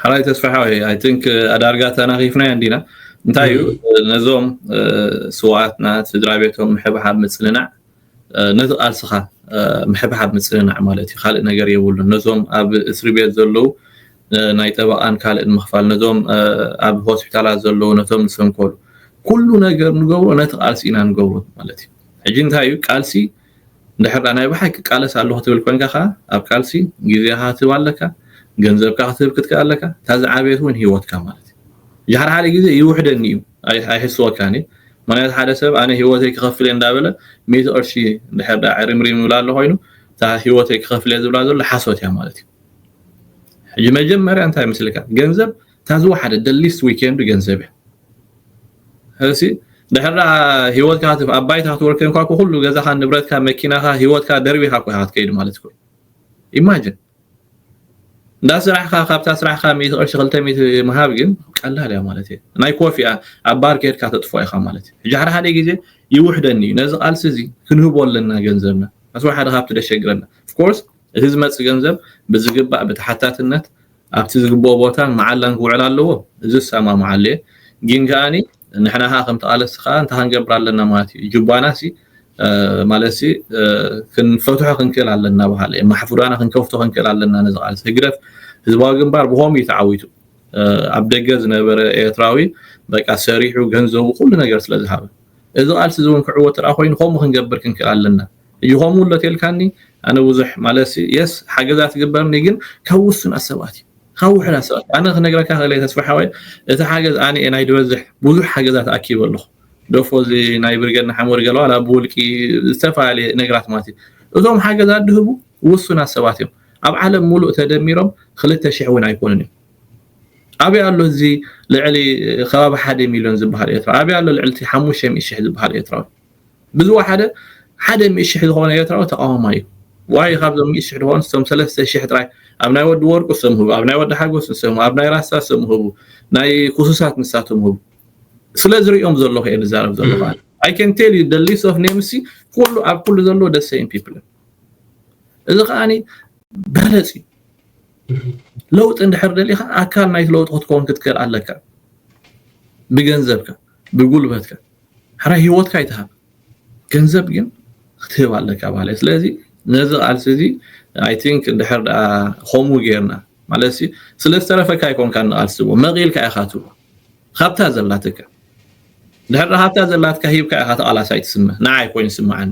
ሓራይ ተስፋሓ ኣይ ቲንክ ኣዳርጋ ተናኺፍናዮ እንዲና እንታይ እዩ ነዞም ስዋኣትና ስድራ ቤቶም ምሕብሓብ ምፅንናዕ ነዚ ቃልስኻ ምሕብሓብ ምጽንናዕ ማለት እዩ ካልእ ነገር የብሉን ነዞም ኣብ እስርቤት ዘለዉ ናይ ጠበቓን ካልእን ምኽፋል ነዞም ኣብ ሆስፒታላት ዘለዉ ነቶም ዝሰንከሉ ኩሉ ነገር ንገብሮ ነቲ ቃልሲ ኢና ንገብሮ ማለት እዩ ሕጂ እንታይ እዩ ቃልሲ እንድሕር ዳ ናይ ብሓቂ ቃለስ ኣለኹ ትብል ኮንካ ከዓ ኣብ ቃልሲ ግዜኻ ክትህብ ኣለካ ገንዘብካ ክትህብ ክትክእ ኣለካ እታ ዝዓበየት እውን ሂወትካ ማለት እዩ ሓደ ሓደ ግዜ ይውሕደኒ እዩ ኣይሕስወካን እዩ ምኽንያቱ ሓደ ሰብ ኣነ ሂወተይ ክኸፍል እየ እንዳበለ ሚእቲ ቅርሺ እንድሕር ድኣ ዕሪምሪም ይብላ ኣሎ ኮይኑ እታ ሂወተይ ክኸፍል እየ ዝብላ ዘሎ ሓሶት እያ ማለት እዩ ሕጂ መጀመርያ እንታይ መስልካ ገንዘብ እታ ዝወሓደ ደሊስት ዊኬንድ ገንዘብ እያ እሲ ድሕር ድኣ ሂወትካ ኣብ ባይታ ክትወር ኮንኳ ኩሉ ገዛኻ ንብረትካ መኪናኻ ሂወትካ ደርቢኻ እኮ ኢኻ ክትከይድ ማለት እኮ ኢማጅን እንዳሰራሕካ ካብታ ስራሕካ ሚእቲ ቅርሺ ክልተ ሚእቲ ምሃብ ግን ቀላል እያ ማለት እየ ናይ ኮፍ እያ ኣብ ባር ከድካ ተጥፍኦ ኢካ ማለት እዩ ሕጂ ሓደ ሓደ ግዜ ይውሕደኒ እዩ ነዚ ቃልሲ እዚ ክንህቦ ኣለና ገንዘብና ኣስወ ሓደ ካብቲ ደሸግረና ኦፍኮርስ እቲ ዝመጽእ ገንዘብ ብዝግባእ ብተሓታትነት ኣብቲ ዝግብኦ ቦታን መዓላን ክውዕል ኣለዎ እዚ እሰማምዓሉ እየ ግን ከኣኒ ንሕና ከኣ ከም ተቓለስቲ ከኣ እንታይ ክንገብር ኣለና ማለት እዩ ጁባና ሲ ማለት ሲ ክንፈትሖ ክንክእል ኣለና በሃለ ማሕፉዳና ክንከፍቶ ክንክእል ኣለና ነዚ ቃልሲ ህግደፍ ህዝባዊ ግንባር ብኸምኡ እዩ ተዓዊቱ ኣብ ደገ ዝነበረ ኤርትራዊ በቃ ሰሪሑ ገንዘቡ ኩሉ ነገር ስለ ዝሃበ እዚ ቃልሲ እዚ እውን ክዕወት ጥራ ኮይኑ ከምኡ ክንገብር ክንክእል ኣለና እዩ ከምኡ ኣሎ ተልካኒ ኣነ ብዙሕ ማለሲ የስ ሓገዛት ግበርኒ ግን ካብ ውሱናት ሰባት እዩ ካብ ውሑዳት ሰባት ኣነ ክነግረካ ክእለ ተስፋ ሓወይ እቲ ሓገዝ ኣነ እየ ናይ ድበዝሕ ብዙሕ ሓገዛት ኣኪበ ኣለኹ ደፎ እዚ ናይ ብርገድ ንሓመዱ ገለዋል ኣብ ውልቂ ዝተፈላለየ ነገራት ማለት እዩ እዞም ሓገዛት ድህቡ ውሱናት ሰባት እዮም ኣብ ዓለም ሙሉእ ተደሚሮም ክልተ ሽሕ እውን ኣይኮኑን እዮም ኣበይ ኣሎ እዚ ልዕሊ ከባቢ ሓደ ሚልዮን ዝበሃል ኤርትራ ኣበይ ኣሎ ልዕሊ ሓሙሽተ ሚእቲ ሽሕ ዝበሃል ኤርትራዊ ብዝወሓደ ሓደ ሚእቲ ሽሕ ዝኾነ ኤርትራዊ ተቓዋማይ እዩ። ዋይ ካብዞም ሚእቲ ሽሕ ዝኾኑስ እቶም ሰለስተ ሽሕ ጥራይ ኣብ ናይ ወዲ ወርቁ ስም ህቡ፣ ኣብ ናይ ወዲ ሓጎስ ስም ህቡ፣ ኣብ ናይ ራስታ ስም ህቡ፣ ናይ ኩሱሳት ንሳቶም ህቡ። ስለ ዝርእዮም ዘለኹ እየ ዝዛረብ ዘለኹ ኣነ። I can tell you the list of names ሲ ኩሉ ኣብ ኩሉ ዘለዎ the same people እዮም። እዚ ከዓኒ በለጽ እዩ። ለውጢ እንድሕር ደሊኻ ኣካል ናይቲ ለውጢ ክትከውን ክትክእል ኣለካ ብገንዘብካ ብጉልበትካ ሕራይ ሂወትካ ኣይትሃብ ገንዘብ ግን ክትህብ ኣለካ በሃላይ እየ ስለዚ ነዚ ቃልሲ እዚ ኣይ ቲንክ ድሕር ደኣ ከምኡ ጌርና ማለት ሲ ስለ ዝተረፈካ ኣይኮንካ ንቃልሲ ትብዎ መቂልካ ኢኻ ትብዎ ሃብታ ዘላትካ ድሕር ደኣ ሃብታ ዘላትካ ሂብካ ኢኻ ተቃላሳይ ትስመ ንዓይ ኮይኑ ስምዓኒ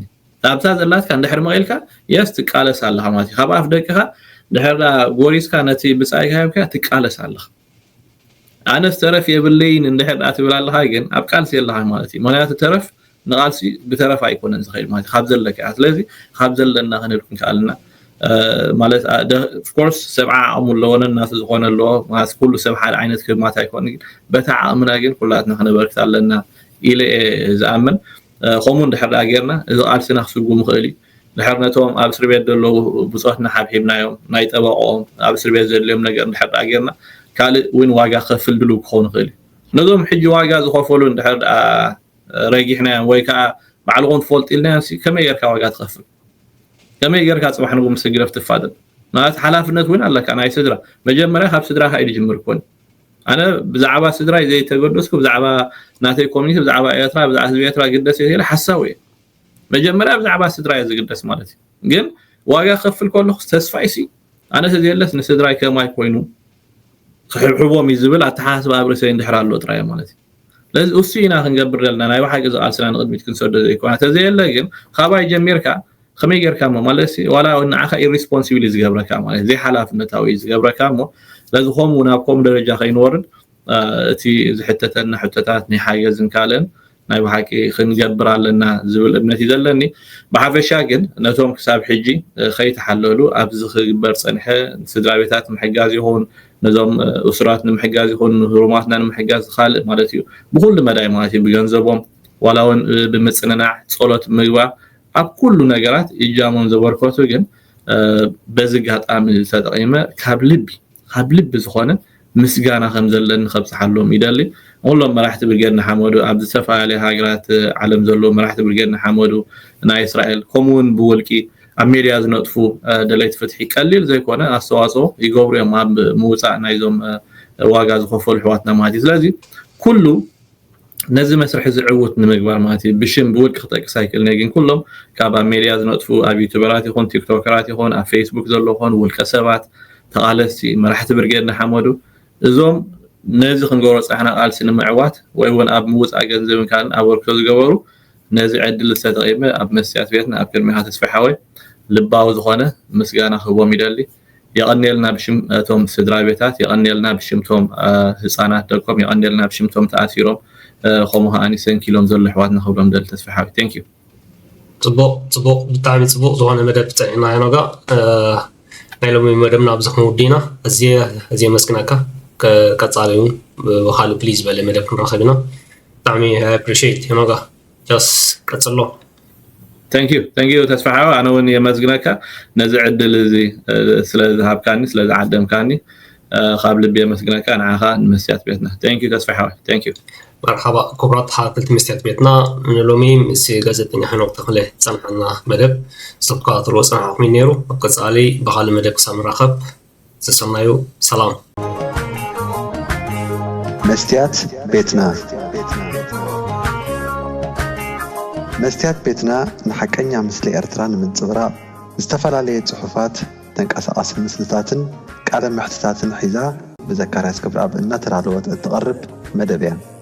ሃብታ ዘላትካ እንድሕር መቂልካ የስ ትቃለስ ኣለኻ ማለት እዩ ካብ ኣፍ ደቅኻ ድሕር ደኣ ጎሪስካ ነቲ ብጻይካ ሂብካ ትቃለስ ኣለኻ ኣነስ ተረፍ የብለይን እንድሕር ድኣ ትብል ኣለኻ ግን ኣብ ቃልሲ የለኻን ማለት እዩ ምኽንያቱ ተረፍ ንቓልሲ ብተረፍ ኣይኮነን ዝኸይድ ማለት እዩ ካብ ዘለካ እያ ስለዚ ካብ ዘለና ክንብል ክንከኣልና ማለት ኦፍኮርስ ሰብዓ ዓቕሙ ኣለዎ ነናቱ ዝኾነ ኣለዎ ማለት ኩሉ ሰብ ሓደ ዓይነት ክማት ኣይኮነ ግን በታ ዓቕምና ግን ኩላትና ክነበርክት ኣለና ኢለ እየ ዝኣምን ከምኡ እንድሕር ድኣ ጌርና እዚ ቃልስና ክስጉም ይኽእል እዩ ድሕር ነቶም ኣብ እስርቤት ደለዉ ብጾትና ሓብሒብናዮም ናይ ጠበቆኦም ኣብ እስርቤት ዘድልዮም ነገር ድሕር ድኣ ጌርና ካልእ ዊን ዋጋ ክከፍል ድሉው ክኮን ይክእል እዩ ነዞም ሕጂ ዋጋ ዝከፈሉን ድሕር ድኣ ረጊሕናዮም ወይ ከኣ ባዕልኩም ትፈልጡ ኢልናዮም ሲ ከመይ ጌርካ ዋጋ ትከፍል ከመይ ጌርካ ጽባሕ ንጉ ምስ ህግደፍ ትፋደጥ ማለት ሓላፍነት ዊን ኣለካ ናይ ስድራ መጀመርያ ካብ ስድራካ እዩ ድጅምር ኮን ኣነ ብዛዕባ ስድራይ ዘይተገደስኩ ብዛዕባ ናተይ ኮሚኒቲ ብዛዕባ ኤርትራ ብዛዕባ ህዝቢ ኤርትራ ግደስ እየ ሓሳዊ እየ መጀመርያ ብዛዕባ ስድራይ እየ ዝግደስ ማለት እዩ ግን ዋጋ ክከፍል ከለኩስ ተስፋይ ሲ ኣነ ተዘየለስ ንስድራይ ከማይ ኮይኑ ክሕብሕቦም እዩ ዝብል ኣተሓሳስባ ኣብ ርእሰይ እንድሕር ኣሎ ጥራይ እዩ ማለት እዩ ስለዚ እሱ ኢና ክንገብር ዘለና ናይ ብሓቂ እዚ ቃልስና ንቕድሚት ክንሰዶ ዘይኮና ተዘየለ ግን ካባይ ጀሚርካ ከመይ ጌርካ እሞ ማለት ዋላ ንዓኻ ኢሪስፖንሲብል እዩ ዝገብረካ ማለት ዘይሓላፍነታዊ እዩ ዝገብረካ እሞ ስለዚ ከምኡ ናብ ከምኡ ደረጃ ከይንወርድ እቲ ዝሕተተና ሕቶታት ናይ ሓገዝን ካልእን ናይ ብሓቂ ክንገብር ኣለና ዝብል እምነት እዩ ዘለኒ ብሓፈሻ ግን ነቶም ክሳብ ሕጂ ከይተሓለሉ ኣብዚ ክግበር ፀንሐ ስድራ ቤታት ምሕጋዝ ይኹን ነዞም እሱራት ንምሕጋዝ ይኹን ንህሩማትና ንምሕጋዝ ካልእ ማለት እዩ ብኩሉ መዳይ ማለት እዩ ብገንዘቦም ዋላ እውን ብምፅንናዕ ፀሎት ምግባር ኣብ ኩሉ ነገራት እጃሞም ዘበርከቱ ግን በዚ ጋጣሚ ተጠቂመ ካብ ልቢ ካብ ልቢ ዝኾነ ምስጋና ከምዘለኒ ከብጽሓሎም ይደሊ። ንኹሎም መራሕቲ ብርጌድ ንሓመዱ፣ ኣብ ዝተፈላለያ ሃገራት ዓለም ዘለዉ መራሕቲ ብርጌድ ንሓመዱ፣ ናይ እስራኤል፣ ከምኡ'ውን ብውልቂ ኣብ ሜድያ ዝነጥፉ ደለይቲ ፍትሒ ቀሊል ዘይኮነ ኣስተዋጽኦ ይገብሩ'ዮም ኣብ ምውጻእ ናይዞም ዋጋ ዝኸፈሉ ኣሕዋትና ማለት እዩ። ስለዚ ኩሉ ነዚ መስርሕ እዚ ዕዉት ንምግባር ማለት እዩ ብሽም ብውልቂ ክጠቅስ ኣይክእልንየ ግን ኩሎም ካብ ኣብ ሜድያ ዝነጥፉ ኣብ ዩቱበራት ይኹን ቲክቶከራት ይኹን ኣብ ፌስቡክ ዘሎ ኾን ውልቀ ሰባት ተቓለስቲ መራሕቲ ብርጌድ ንሓመዱ እዞም ነዚ ክንገብሮ ፃሕና ቃልሲ ንምዕዋት ወይ እውን ኣብ ምውፃእ ገንዘብን ካልእን ኣበርክቶ ዝገበሩ ነዚ ዕድል ዝተጠቂመ ኣብ መስትያት ቤትና ኣብ ቅድሚኻ ተስፋ ሓወይ ልባዊ ዝኾነ ምስጋና ክህቦም ይደሊ የቐንየልና ብሽም እቶም ስድራቤታት የቐንየልና ብሽም እቶም ህጻናት ደቆም የቐንየልና ብሽም እቶም ተኣሲሮም ከምኡ ከኣኒ ሰንኪሎም ዘሎ ኣሕዋትና ክብሎም ደሊ ተስፋሓዊ thank you ጽቡቕ ጽቡቕ ብጣዕሚ ጽቡቕ ዝኾነ መደብ ጸኒሕና ሄኖጋ ናይ ሎሚ መደብና ኣብዚ ክንውዲ ኢና እዝየ እዝየ መስግናካ ቀጻሊ እውን ብካልእ ፕሊዝ በለ መደብ ክንረኸብ ኢና ብጣዕሚ ኣፕሪሽት ሄኖጋ ጆስ ቀጽሎ። Thank you thank you ተስፋሓው ኣነ እውን የመስግነካ ነዚ ዕድል እዚ ስለ ዝሃብካኒ ስለ ዝዓደምካኒ ካብ ልቢ የመስግነካ ንዓኻ ንመስትያት ቤትና thank you ተስፋሓው thank you መርሓባ ክቡራት ተኸታተልቲ መስትያት ቤትና ንሎሚ ምስ ጋዜጠኛ ሄኖክ ተኽለ ዝፀንሓና መደብ ዝተከታተልዎ ፀናሕኹም እዩ ነይሩ ኣብ ቀፃሊ ብካልእ መደብ ክሳብ ንራኸብ ሰሰናዩ ሰላም። መስትያት ቤትና መስትያት ቤትና ንሓቀኛ ምስሊ ኤርትራ ንምንጽብራቕ ዝተፈላለየ ጽሑፋት፣ ተንቀሳቓሲ ምስልታትን ቃለ መሕትታትን ሒዛ ብዘካርያስ ገብረኣብ እናተዳለወት እትቐርብ መደብ እያ።